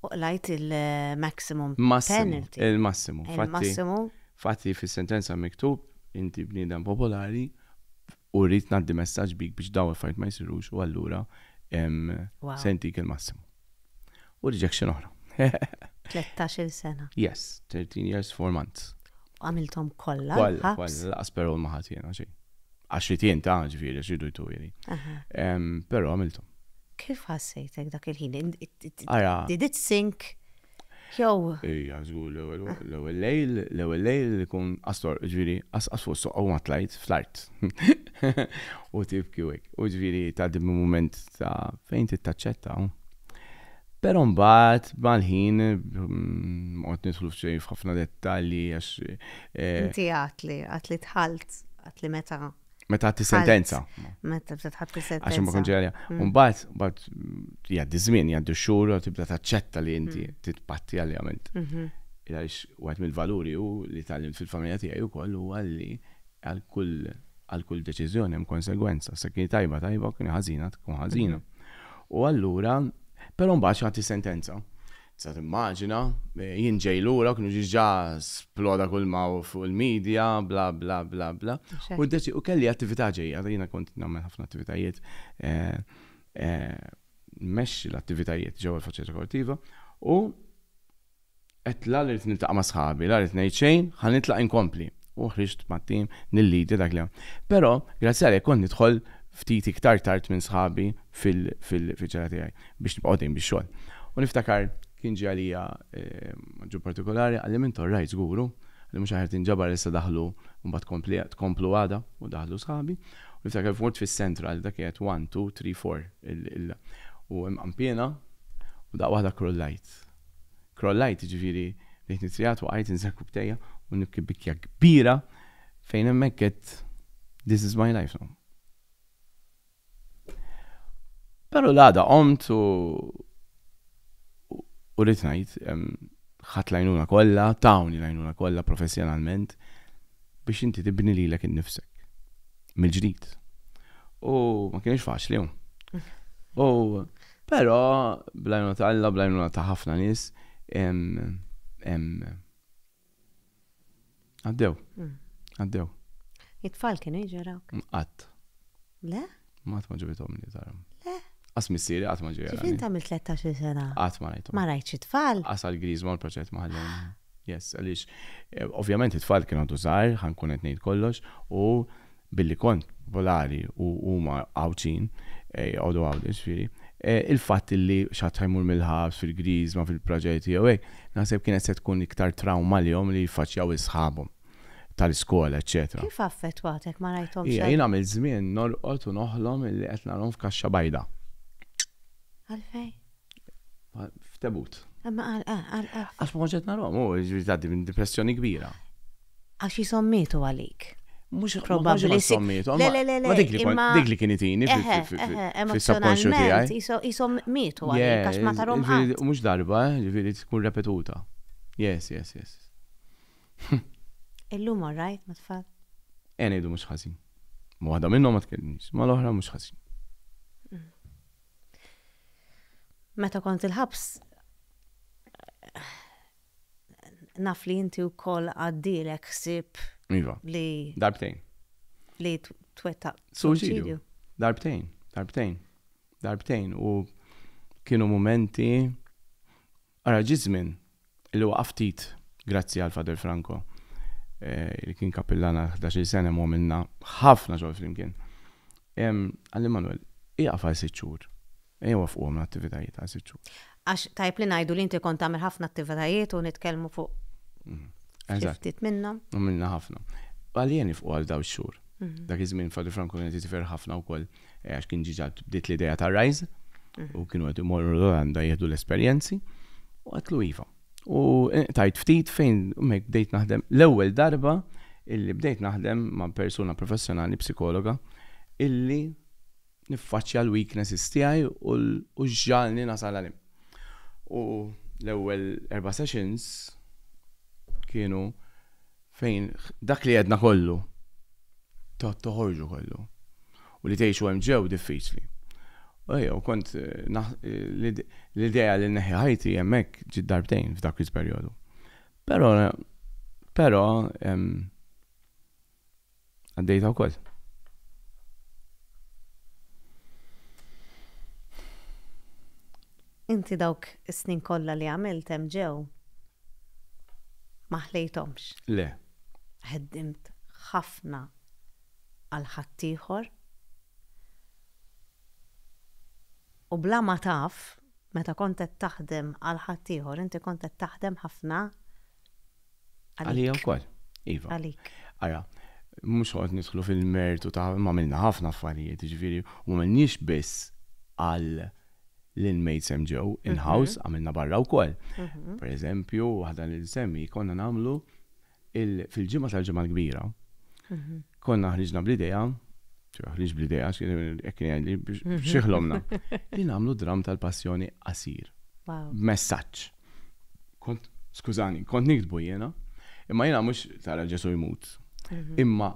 U lajt il-maximum penalty. Il-massimu. Il-massimu. Fatti fis-sentenza miktub, inti bniedem popolari, U rrid ngħaddi messaġġ bik biex dawn il-affarijiet ma jsirux u allura se ntik il-massimu. U rejection oħra. 13-il sena. Yes, 13 years, 4 months. U għamilthom kollha. Kollha, kollha, laqas perol ma ħadd jiena xejn. Għax li tien ta' ġifieri għax jridu jturi. Però għamilthom. Kif ħassejtek dak il-ħin? Ara. Did it sink? Jew. Ejja, żgur l-ewwel l-ewwel lejl, l-ewwel lejl li jkun astor, ġifieri qasqas fuq is-soqqa u ma tlajt fl-art. U tibki u hekk. U ġifieri tgħaddi minn mument ta' fejn trid taċċetta. Però mbagħad mal-ħin, ma noqgħod nidħlu f'xejn f'ħafna dettalji għax. Inti għedt li, għedt li dħalt, għedt li meta. Meta ħatti sentenza. Meta bdiet ħatti sentenza. Għax ma konġerja. Mm. Umbagħad mbagħad jgħaddi żmien, jgħaddu xhur u tibda taċċetta li inti mm. titpatti għaljament. Mhm. Għax wieħed mill-valuri u li tgħallimt fil-familja tiegħi wkoll huwa li għal kull għal kull deċiżjoni hemm konsegwenza. Se kien tajba tajba, kien ħażina tkun ħażina. Mhm. U allura, però mbagħad ħatti sentenza. Tista' timmaġina. Jien ġej lura, kienu diġà sploda kulma fuq il-media, bla bla bla bla. U kelli attività ġejja, jiena kont nagħmel ħafna attivitajiet, nmexxi l-attivitajiet ġewwa l-Faċċata Kortiva, u għedt la li rrid niltaqa' ma' sħabi, la rrid ngħid xejn, ħa nitlaq inkompli. U ħriġt mat-tim nillidja dak li. Però, grazzi għalih kont nidħol ftit iktar tard minn sħabi fil-ġara tiegħi. biex nibqa' għoddejjin bix-xogħol. U niftakar kien ġie għalija Aġġun partikolari qalli Mintu all right żgur hu li mhux aħjar tinġabar issa daħlu mbagħad tkompli tkomplu għada u daħlu sħabi u niftakar kif mort fis-central dak kienet one two three four il il u hemm qanpiena u daqqa waħda krullajt. Krollajt jiġifieri bdejt nitrijat waqajt inżel kubbtejja u nibki bikkja kbira fejn hemmhekk għedt this is my life now. Pero l-għada qomt u u rrit ngħid ħadd lajnuna kollha, tawni lajnuna kollha professjonalment biex inti tibni lilek innifsek. Mill-ġdid. U ma kienx faċli. U però blajnuna ta' Alla, blajnuna ta' ħafna nies, Għaddew. Mm. Għaddew. It-tfal kienu jġeraw. Qatt. Le? Ma qatt ma ġibitom li taram. Le? Qas missieri qatt ma ġiera. Kif inta mill-13 sena? Qatt ma rajtu. Ma rajtx it-tfal? Qas għal-griż ma l-proċett ma ħallem. Yes, għaliex, eh, ovvjament it-tfal kienu għadu żgħar, ħankun qed ngħid kollox, u billi kont popolari u huma Għawdxin, joqogħdu Għawdex jiġifieri, il-fatt li x'ħadd ħa jmur mill-ħabs fil-Griżma, fil-proġetti jew hekk, naħseb kienet se tkun iktar trawma għalihom li jiffaċċjaw is-sħabhom tal-iskola eċċetera. Kif affettwatek ma rajthomx għal. Hija jien għamilt żmien norqod u noħlom illi qed narahom f'kaxxa bajda. Għalfejn? F'tebut. Imma għal għal għal. Għax ma kontx qed narahom, u jiġifieri tgħaddi minn dipressjoni kbira. Għax hi sommietu għalik. Mhux probabbli. Mhux sommietu. Le, le, le, le. Dik li kien itini fis-subconscious tiegħi. Hi sommietu għalik għax ma tarhom qatt. Mhux darba, ġifieri tkun repetuta. Yes, yes, yes. Illum all right, ma tfal. Ejn ngħidu mhux ħażin. Ma waħda minnhom ma tkellimx, ma l-oħra mhux ħażin. Meta kont il-ħabs naf li inti wkoll għaddielek ħsieb Iva. li Darbtejn. li t- twettaq Suċidju. suċidju. Darbtejn, darbtejn, darbtejn u kienu mumenti ara ġi żmien li waqaf ftit grazzi għal Father Franco eh, li kien kapillan għal 11 sena mu għamilna ħafna xogħol flimkien. Em, Għalli Manuel, iqaf għal sitt xhur. Ejja wafquhom l-attivitajiet għal sitt xhur. Għax tajjeb li ngħidu li inti kont tagħmel ħafna attivitajiet u nitkellmu fuq xi ftit minnhom. Għamilna ħafna. Għalija nifqu għal dawn ix-xhur. Dak iż-żmien Father Franco kien qed jitifer ħafna wkoll għax kien ġiġa bdiet l-idea ta' Rise u kienu qed imorru l-Olanda jieħdu l-esperjenzi u għatlu iva. U tajt ftit fejn mek bdejt naħdem l-ewwel darba illi bdejt naħdem ma' persuna professjonali psikologa illi niffaċċja l-weaknesses tiegħi u x'ġagħalni nasal għal hemm. U l-ewwel erba' sessions kienu fejn dak li għedna kollu toħorġu kollu u li tgħixu hemm ġew diffiċli. Ejja, u kont l-idea li neħi ħajti hemmhekk ġid darbtejn f'dak il-perjodu. Però però Għaddejta wkoll. Inti dawk is-snin kollha li għamilt hemm ġew ma ħlejthomx. Le. Ħeddimt ħafna għal ħaddieħor u bla ma taf meta kont qed taħdem għal ħaddieħor inti kont qed taħdem ħafna Għalija u koll. Iva. Għalik. Ara, mux għod nidħlu fil-mertu ta' ma minna ħafna affarijiet, ġviri, u ma minnix biss għal l-inmates ġew mhm. in-house għamilna barra u koll. Mhm. Per eżempju, għadan il-semmi konna namlu fil-ġimma tal-ġimma l-kbira, mhm. Konna ħriġna bl-idea, ċira ħriġ bl-idea, hekk kien jgħidli, biex xiħlomna, li nagħmlu dramm tal-passjoni qasir. Messaġġ. Kont, skużani, kont niktbu jiena, imma jiena mhux tara Ġesu jmut. Mhm. Imma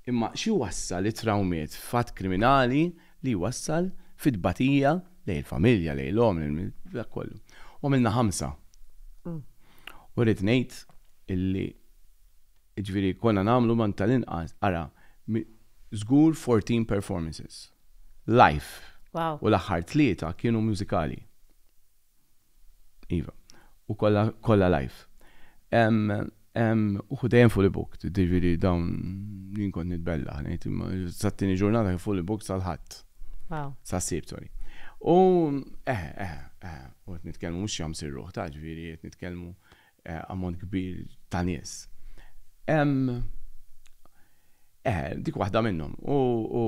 imma xi wassal it-trawmiet fatt kriminali li wassal fit-tbatija lej il-familja, lej l-om, dak kollu. U għamilna ħamsa. Mm. U rrid ngħid illi Jiġifieri konna nagħmlu ma tal-inqas, ara, żgur 14 performances live u l-aħħar tlieta kienu mużikali. Iva. U kollha, kollha live. Uħud dejjem fully booked, jiġifieri dawn jien kont nitbellaħ ngħid imma sat-tieni ġurnata kien fully booked sal-Ħadd. Waw. Sas-Sibt, sorry. U eħe, eħe, eħe, u qed nitkellmu mhux xi jagħmsir ruħ ta' jiġifieri qed nitkellmu ammont kbir ta' nies. Hemm eh, dik waħda minnhom. U, u,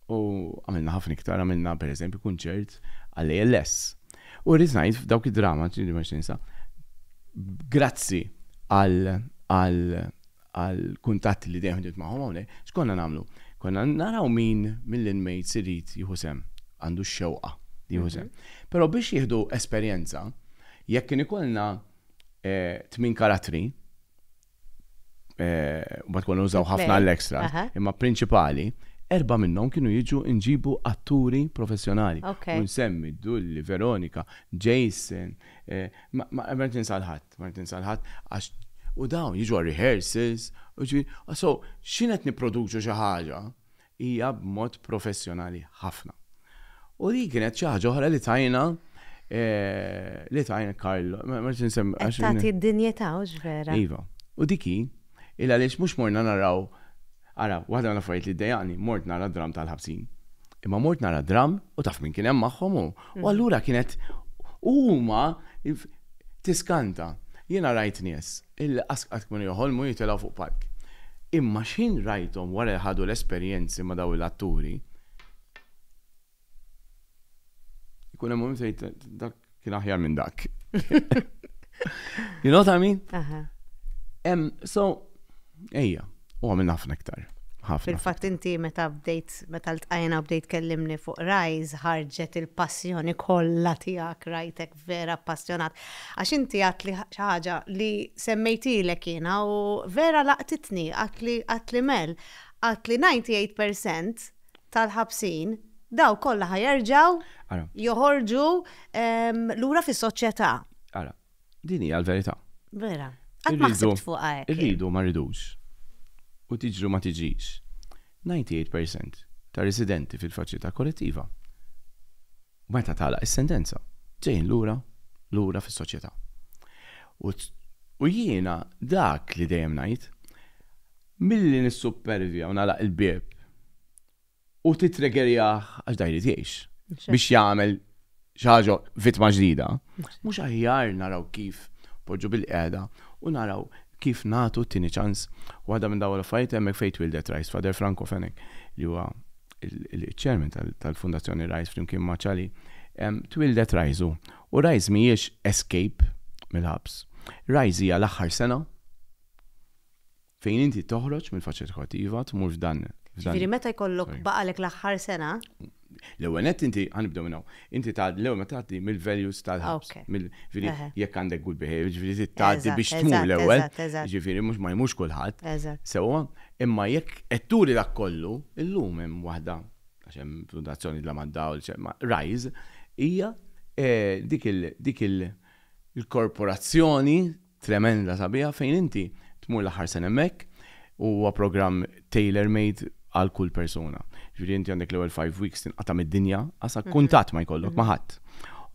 u għamilna ħafna iktar, għamilna pereżempju kunċert għall-ALS. U rrid ngħid f'dawk id-drama, ġieli ma ninsa, grazzi għal, għal, għal kuntatti li dejjem ħdimt magħhom hawnhekk, x'konna nagħmlu? Konna naraw min mill-inmates irid jieħu sehem, għandu x-xewqa li jieħu sehem. Però biex jieħdu esperjenza, jekk kien ikollna tmien karattri, mbagħad konna nużaw ħafna l-extra, imma prinċipali, erba' minnhom kienu jiġu nġibu atturi professjonali. Nsemmi Dulli, Veronika, Jason, ma qed ninsal ħadd. Ma rrid ninsa 'l ħadd għax u dawn jiġu għal rehearsals u jiġifieri so x'inhi qed nipproduċu xi ħaġa hija b'mod professjonali ħafna. U din kienet xi ħaġa oħra li tajna li tajna Carlo ma rridx insemmi għax. Qed tagħti d-dinjità hux vera. Iva. U dik hi il-għaliex mhux morna naraw Ara, waħda mill-affarijiet li ddejjaqni, mort nara d-dramm tal-ħabsin. Imma mort nara d-dramm u taf min kien hemm magħhom hu. U allura kienet huma tiskanta. Jiena rajt nies illi qas qatt kienu joħolmu jitilgħu fuq palk. Imma x'ħin rajthom wara li ħadu l-esperjenzi ma' dawn l-atturi. Ikun hemm minn sejt dak kien aħjar minn dak. you know what I mean? Em, so, ejja, u għamil ħafna iktar. Fil-fatt inti meta bdejt, meta l-tqajna bdejt kellimni fuq rajz, ħarġet il-passjoni kollha tiegħek rajtek vera passjonat. Għax inti għat li ħaġa li semmejtilek jiena u vera laqtitni għat li mel, għat li 98% tal-ħabsin, daw kollha ħa jerġgħu joħorġu lura fis-soċjetà. Ara, din hija l-verità. Vera. Qatt ma ħsibt fuqha hekk. Irridu ma rridux. U tiġri ma tiġix. 98% ta' residenti fil-faċilità korrettiva meta tagħlaq is-sentenza ġejjin lura lura fis-soċjetà. U jiena dak li dejjem ngħid Milli nissuppervja u nagħlaq il-bieb u tittriggerjah għax dan jrid jgħix biex jagħmel xi ħaġa vittma ġdida, mhux aħjar naraw kif poġġu bilqiegħda u naraw kif nagħtu t-tieni ċans? Waħda minn dawn l-affarijiet hemmhekk fejn twieldet Rice, Father Franco Fenech li huwa l-chairman tal-Fundazzjoni Rice flimkien ma' Cali, twieldet Rice hu. U Rice mhijiex escape mill-ħabs. Rice hija l-aħħar sena. Fejn inti toħroġ mill-faċċa edukattiva tmur f'dan. Ġifieri meta jkollok baqalek l-aħħar sena? L-ewwel nett inti ħanibdew minn hawn. Inti tgħaddi l-ewwel ma tgħaddi mill-values tal-ħabs. Ġifieri jekk għandek good behavior, ġifieri tgħaddi biex tmur l-ewwel. Ġifieri mhux ma jmurx kulħadd. Sewwa, imma jekk qed turi dak kollu, illum hemm waħda, għax hemm fundazzjoni la mad-dawl, Rise, hija dik il-korporazzjoni, Tremenda sabiħa fejn inti tmur l-aħħar sena hemmhekk u huwa programm tailor made għal kull persuna. Ġifieri inti għandek l-ewwel five weeks tinqata' mid-dinja għas kuntatt ma jkollok ma' ħadd.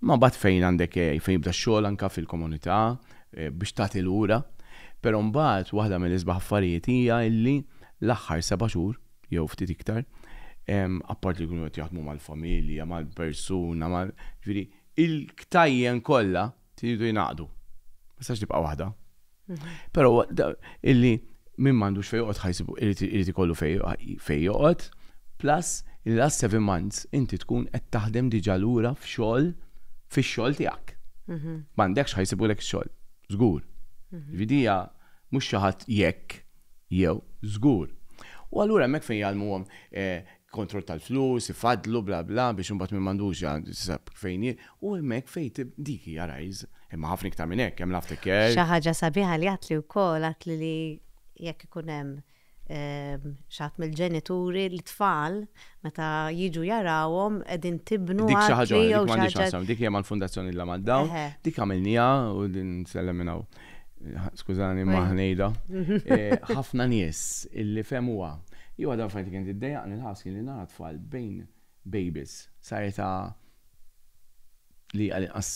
Ma bad fejn għandek eh, fejn jibda x-xogħol anka fil-komunità eh, biex tagħti lura. Però mbagħad waħda mill-isbaħ affarijiet hija illi l-aħħar seba' xhur jew ftit iktar apparti li jkunu qed jaħdmu mal-familja, mal-persuna, mal ġifieri il-ktajjen kollha Tridu jingħaqdu. Ma jistax tibqa' waħda. Però illi min m'għandux fejn joqgħod ħajsibu irid ikollu fejn joqgħod, plus il last seven months inti tkun qed taħdem diġà lura f'xogħol fix-xogħol tiegħek. Mhm. M'għandekx ħajsibulek xogħol, żgur. Mhm. Vidija mhux xi ħadd jekk jew żgur. U allura hemmhekk fejn jgħallmuhom eh, kontroll tal-flus, ifaddlu bla bla biex imbagħad min m'għandux ja tisab fejn hi u hemmhekk fejn tib dik hija rajs. Imma ħafna iktar minn hekk, hemm l-aftercare. Xi ħaġa sabiħa li għadtli wkoll għadtli li jekk ikun hemm xi ħadd mill-ġenituri l-tfal meta jiġu jarawhom qegħdin tibnu Dik xi ħaġa għadtli oħra, jew dik xi m'għandhiex ħaġa. x'aqsam, dik hija mal-Fundazzjoni Illa mad-Dawn, Eħe. dik għamilniha u din nsellem minn hawn. skużani ma ħnejda, ħafna nies illi fehmuha. Hi waħda mill-affarijiet li kienet iddejjaqni l-ħass kien li nara tfal bejn babies sa età li għal inqas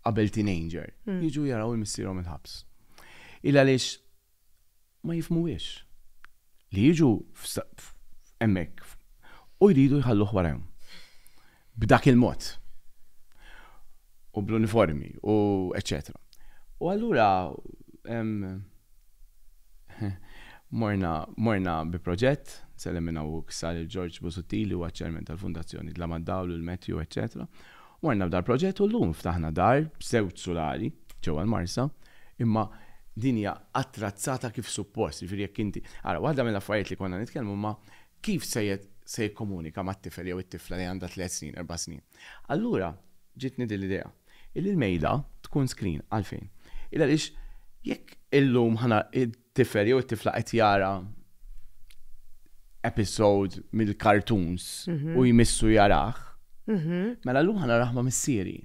qabel teenager jiġu jaraw il-missierhom il-ħabs. Il-għaliex ma jifhmuhiex, li jiġu hemmhekk u jridu jħalluh warajhom b'dak il-mod u bl-uniformi u eċċetera. U allura morna morna bi proġett, nsellem minn hawn u issa lil Ġorġ Busuttil li huwa ċ-Chairman tal-Fundazzjoni Dlam għad-Dawl u l-Matthew eċċetera, Morna f'dar proġett u llum ftaħna dar b'żewġ sulari ġewwa l-Marsa, imma din hija attrazzata kif suppost, jiġifieri jekk inti, ara waħda mill-affarijiet li konna nitkellmu ma' kif se se jikkomunika mat-tifel jew it-tifla li għandha tliet snin, erba' snin. Allura ġietni din l-idea illi l-mejda tkun screen. Għalfejn? Il għaliex jekk illum ħa tifel jew it-tifla qed jara episode mill-cartoons u jmissu jarah, mela llum ħa narah ma' missieri.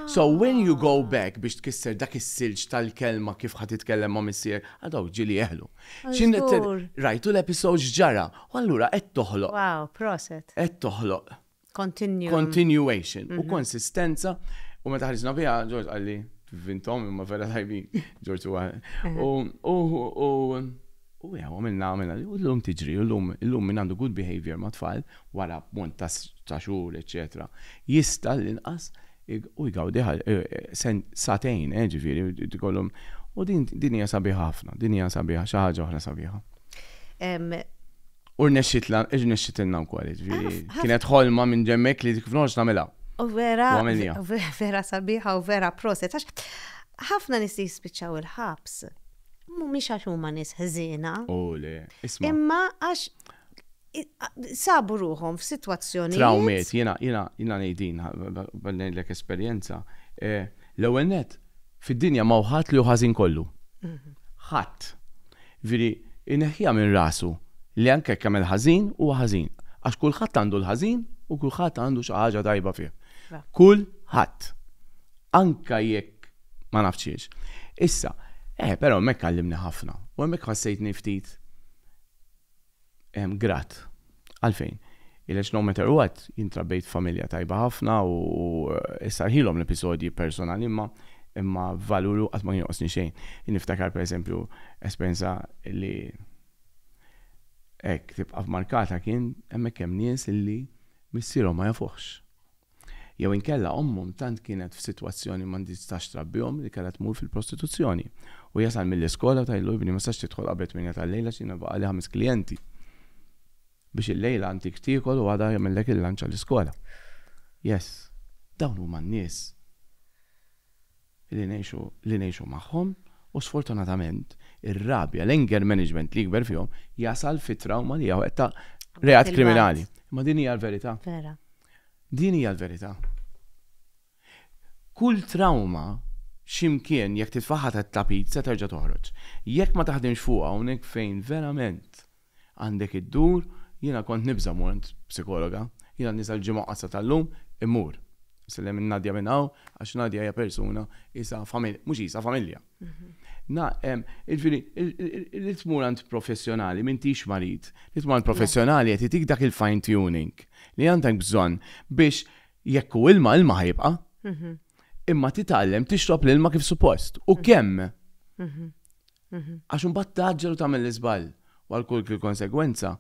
So when you go back biex tkisser dak is-silġ tal-kelma kif ħa titkellem ma' missier, għal dawk ġieli jeħlu. Rajtu l-episode x'ġara, u allura qed toħloq. Wow, proset. Qed toħloq. Continue. Continuation u mhm. konsistenza u meta ħarġna biha Ġorġ qalli vintom imma vera tajbin Ġorġ u mhm. u u u jew għamilna għamilna u l-lum tiġri u l-lum l-lum minn għandu good behavior ma' tfal wara mont ta' xhur eċetera jista' l-inqas u jgawdi eh, eh, satejn eh, ġifieri tkollhom u din hija sabiħa ħafna din hija sabiħa xi ħaġa oħra sabiħa U rnexxitlna, rnexxitilna wkoll, jiġifieri. Kienet ħolma minn ġemmek li kif noħroġ nagħmilha. U vera, vera sabiħa u vera proset. Ħafna nies li jispiċċaw il-ħabs mhumiex għax huma nies ħżiena. U le, isma'. Imma għax sabu ruħhom f'sitwazzjoni. Trawmiet, jiena jiena jiena ngħidin, ngħidlek esperjenza. L-ewwel net, Fid-dinja m'hawn ħadd li hu ħażin kollu. Ħadd. Jiġifieri, ineħħiha minn rasu li anke jekk jagħmel ħażin, huwa ħażin. Għax kulħadd għandu l-ħażin u kulħadd għandu xi ħaġa tajba fih. Kulħadd. Anke jekk ma nafx xiex. Issa, eh, però hemmhekk għallimni ħafna u hemmhekk ħassejtni ftit. grat. Għalfejn? Għaliex no matter what, jien trabbejt f'familja tajba ħafna u issarħilhom l-episodji personali imma imma valur qatt ma jonqosni xejn. Jien niftakar pereżempju esperjenza li hekk tibqa' markata kien hemmhekk hemm nies illi missierhom ma jafuhx. Jew inkella ommhom tant kienet f'sitwazzjoni ma ndistax trabbihom li kellha tmur fil-prostituzzjoni. Hu jasal mill-iskola u tgħidlu, Ibni, ma tistax tidħol qabel tmienja tal-lejl għax jiena baqgħali ħames klijenti. Biex illejla inti x'tiekol u għada jagħmillek il-lunch għall-iskola. Yes. Dawn huma n-nies. li ngħixu li ngħixu magħhom u sfortunatament ir-rabja, l-anger management li jikber fihom jasal fi trawma li hija weqta reat kriminali. Imma din hija l-verità. Vera. Din hija l-verità. Kull trawma x'imkien jekk titfaħħa tat-tapit se terġa' toħroġ. Jekk ma taħdimx fuqha hawnhekk fejn verament Għandek iddur, jiena kont nibża' mmur għand psikologa. Jiena nisa l-Ġimgħa Qasra tal-lum immur. Isellem lil Nadia minn hawn għax Nadia hija persuna qisha mhux qisha familja. Jiġifieri li tmur għand professjonali m'intix marid. Li tmur għand professjonali qed jagħtik dak il-fine tuning li għandek bżonn biex jekk hu ilma, ilma ħa jibqa'. Imma titgħallem tixrob l-ilma kif suppost u kemm. Għax imbagħad tgħaġġel u tagħmel l-iżball. U għal kull konsegwenza,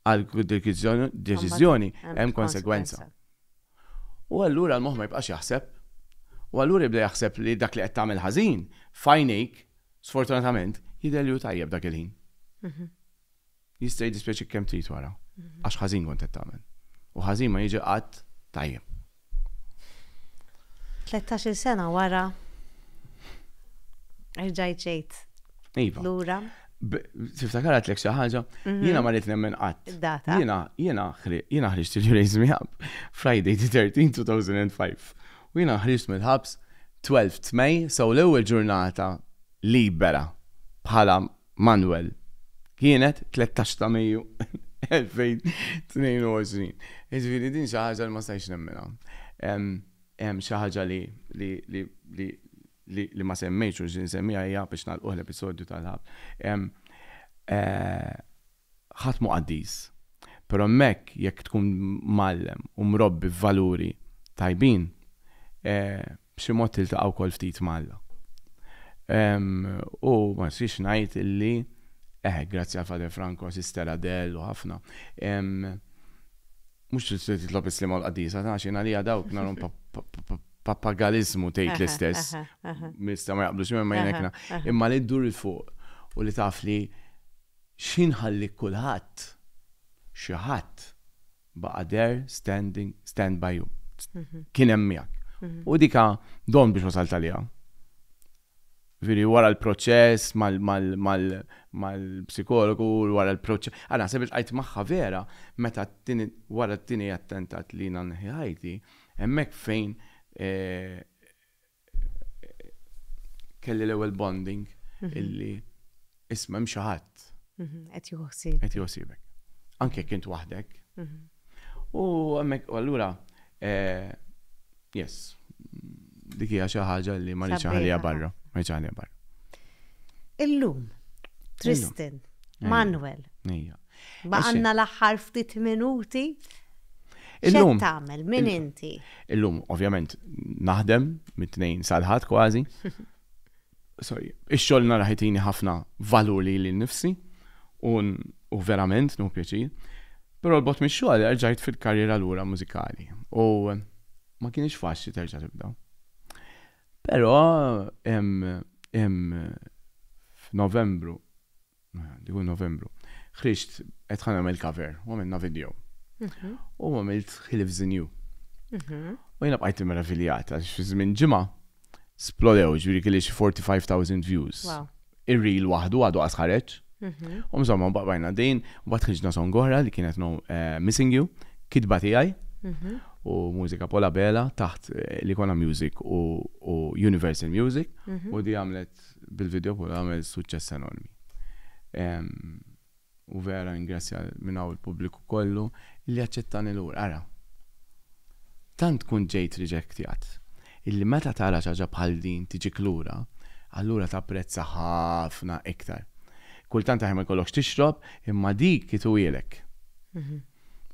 għal kull deċiżjoni hemm konsegwenza. U allura l-moħħ ma jibqax jaħseb. U allura jibda jaħseb li dak li qed tagħmel ħażin, f'għajnejk, sfortunatament, jidher li hu tajjeb dak il-ħin. Jista' jiddispjaċik kemm trid wara, għax ħażin kont qed tagħmel. U ħażin ma jiġi qatt tajjeb. Tlettax-il sena wara erġajt ġejt lura. Tiftakar għatlek xi ħaġa, jiena ma rrid nemmen qatt. Data. Jiena jiena jiena ħriġt il-Raise Me Up Friday the 13 2005. U jiena ħriġt mill-ħabs 12 May, so l-ewwel ġurnata libera bħala Manuel, kienet 13 ta' Mejju 2022. Jiġifieri din xi ħaġa li ma stajtx nemminha. Hemm xi ħaġa li li ma semmejtx u xi nsemmiha hija biex nagħlquh l-episodju tal-Ħabs. Ħadd mhu qaddis, però hemmhekk jekk tkun mgħallem u mrobbi f'valuri tajbin, B'xi mod tiltaqa' wkoll ftit ma' Alla. U ma nixtieqx ngħid illi, eħe, grazzi għal Father Franco, Sister Adele u ħafna, mhux se titlob is-Sliema u l-Qaddisa, għax jien għalija dawk narhom papagaliżmu tgħid l-istess. Jistgħu ma jaqblux miegħi imma jien hekk nara. Imma li ddur 'il fuq u li taf li xi nħallik kulħadd, xi ħadd Baqa' there, standing, stand by you. Kien hemm miegħek. U dik don biex wasalt għaliha. Ġifieri wara l-proċess mal-psikologu, wara l-proċess. Ara naħseb iltqajt magħha vera meta wara t-tieni attentat li jiena neħħi ħajti, hemmhekk fejn kelli l-ewwel bonding mhm. illi isma' hemm xi ħadd. Mhm, qed joħsib. Qed joħsibek. Anke kint waħdek. Mhm. U hemmhekk allura eh, yes, dik hija xi ħaġa li ma nix ħalija barra, ma nix ħalija barra. Illum, Tristan, Manuel. Ija. Ma għandna l-aħħar ftit minuti. Illum tagħmel min inti? Illum ovvjament naħdem mit-tnejn sal-ħadd kważi. Sorry, ix-xogħol nara ħitini ħafna valur li li nifsi u verament nu pjaċir. Però l-bot mix-xogħol rġajt fil-karriera lura mużikali u ma kienx faċli terġa' tibda. Però f'Novembru Hu Novembru. Ħriġt qed ħa nagħmel cover u għamilna video. Mhm. U għamilt He Lives in You. Mhm. U jiena bqajt immeraviljat għax fi żmien ġimgħa splodew ġifieri kelli xi 45,000 views. Wow. Ir-reel waħdu għadu qas ħareġ. Mhm. U mżomma baqbajna din, u bat ħriġna song oħra li kienet no, eh, Missing You, kitba tiegħi Mhm. u mużika Pola Bela taħt eh, li kona music u, u Universal Music Mhm. u di għamlet Art bil-video kollu għamel suċċess enormi. U vera ningrazzja minn hawn il-pubbliku kollu li aċċettani lura. Ara, tant tkun ġejt riġektjat illi meta tara xi ħaġa bħal din tiġik lura, allura tapprezza ħafna iktar. Kultant aħjar ma jkollokx tixrob, imma dik itwielek.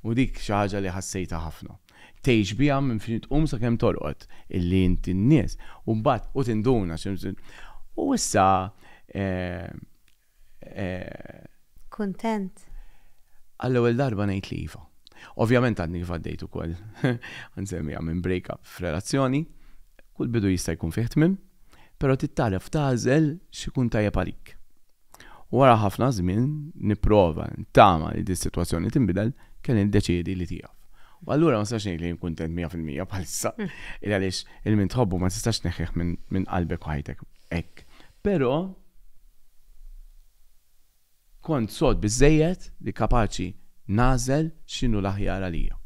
U dik xi ħaġa li ħassejtha ħafna. Tgħix biha minn fejn tqum sakemm torqod, illi int in-nies, u mbagħad, u tinduna, u issa, eh, eh. Kuntent? Għall-ewwel darba ngħid li iva. Ovvjament għadni kif għaddejt ukoll, nsemmija minn break-up f'relazzjoni, kull bidu jista' jkun fih tmiem, però titgħallem tagħżel x'ikun tajjeb għalik. Wara ħafna żmien nipprova ntama li dis-sitwazzjoni tinbidel, kelli niddeċiedi li tieqaf. U allura ma nistax ngħid li jien kuntent mija fil-mija bħalissa, il għaliex il-min tħobbu ma tistax tneħħih minn qalbek u ħajtek hekk. Però kont sod biżżejjed li kapaċi nagħżel x'inhu l-aħjar għalija.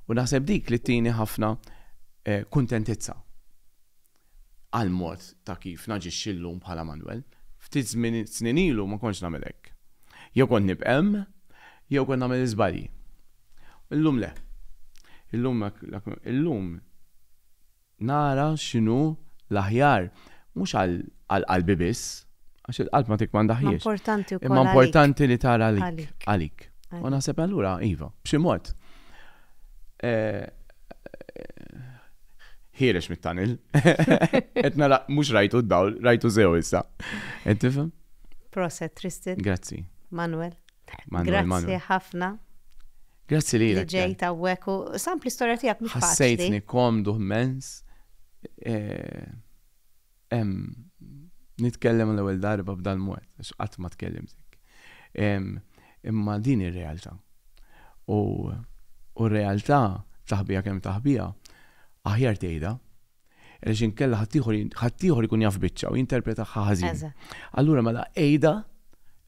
U naħseb dik li tini ħafna kuntentizza. għall-mod ta' kif naġixxi llum bħala Manwel. Ftit żmien snin ilu ma kontx nagħmel hekk. Jew kont nibqem, jew kont nagħmel iżbalji. Illum le. Illum illum nara x'inhu l-aħjar mhux għal għal qalbi biss, għax il-qalb ma tikkmandahiex. Imma importanti wkoll. Imma importanti li tara għalik. Għalik. U naħseb allura iva, b'xi mod. ħierex mit-tunnel. Qed nara mhux rajtu d-dawl, rajtu sew issa. Qed tifhem? Proset, Tristan. Grazzi. Manuel. Manuel. Grazzi ħafna. Grazzi li li ġej ta' weku. Sampli storja tijak mux faċli. Ħassejtni komdu ħmens. Eh, Ehm, nitkellem għal ewwel darba b'dal-mod, għax qatt ma tkellimt hekk. Ehm, imma din ir-realtà. U r-realtà taħbija kemm taħbija, aħjar tgħidha, għaliex inkella ħaddieħor ikun jaf biċċa u jinterpreta ħażin. Allura mela għidha,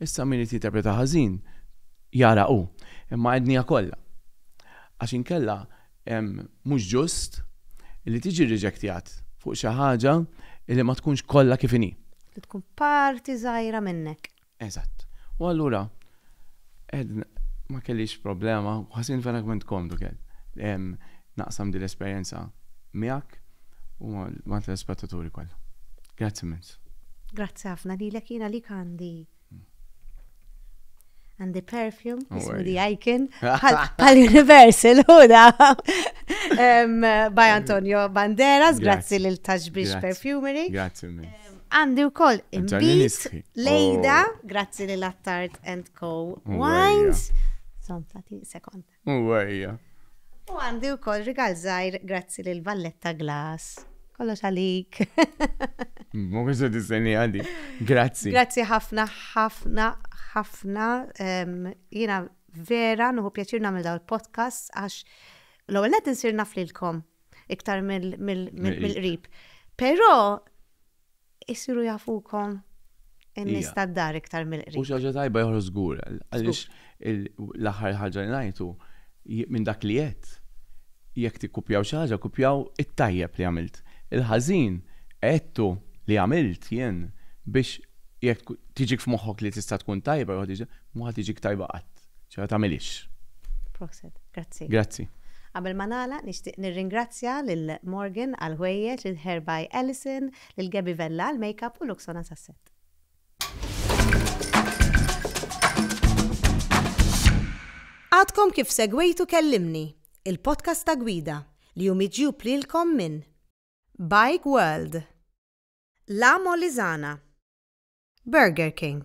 issa min irid jinterpreta ħażin jara hu, imma għednija kollha. Għax inkella mhux ġust li tiġi rriġektjat fuq xi ħaġa li ma tkunx kollha kif inhi. Li tkun parti żgħira minnek. Eżatt. U allura ma kellix problema u ħassejtni verament komdu kelli naqsam din l-esperjenza miegħek u mal-telespettaturi kollha. Grazzi immens. Grazzi ħafna lilek, jiena għalik għandi. and the perfume, ismu the icon, pal Universal, huda, by Antonio Banderas, grazzi lil Taxbix Perfumery. Grazzi Għandi u koll imbit, lejda, oh. grazzi lil Attard and Co. Wines. Zom, tati, sekond. Huwa, hija. U għandi wkoll rigal żgħir grazzi lil Valletta Glass. Kollox għalik. Ma konx se tistenni għadi. Grazzi. Grazzi ħafna, ħafna, ħafna. Jiena vera nuhu pjaċir nagħmel daw il-podcast għax l-ewwel qed insir naf lilkom iktar mill-qrib. Però Isiru jafukom in-nies tad-dar iktar mill-qrib. Hu xi ħaġa tajba joħroġ żgur, għaliex l-aħħar ħaġa li ngħid hu, minn dak li għedt, jekk tikkupjaw xi ħaġa, kkupjaw it-tajjeb li għamilt. Il-ħażin għedtu li għamilt jien biex jekk tiġik f'moħħok li tista' tkun tajba, mhu ħa tiġik tajba qatt. Ċa tagħmilix. Proset, grazzi. Grazzi. Qabel ma nagħlaq nixtieq nirringrazzja lil Morgan għal ħwejjeġ, lil Hair by Alison, lil Gabby Vella għal makeup u Luxona sas-set. Għadkom kif segwejtu kellimni, il-podcast ta' gwida li hu miġjub lilkom minn Bike World, La Molizana, Burger King,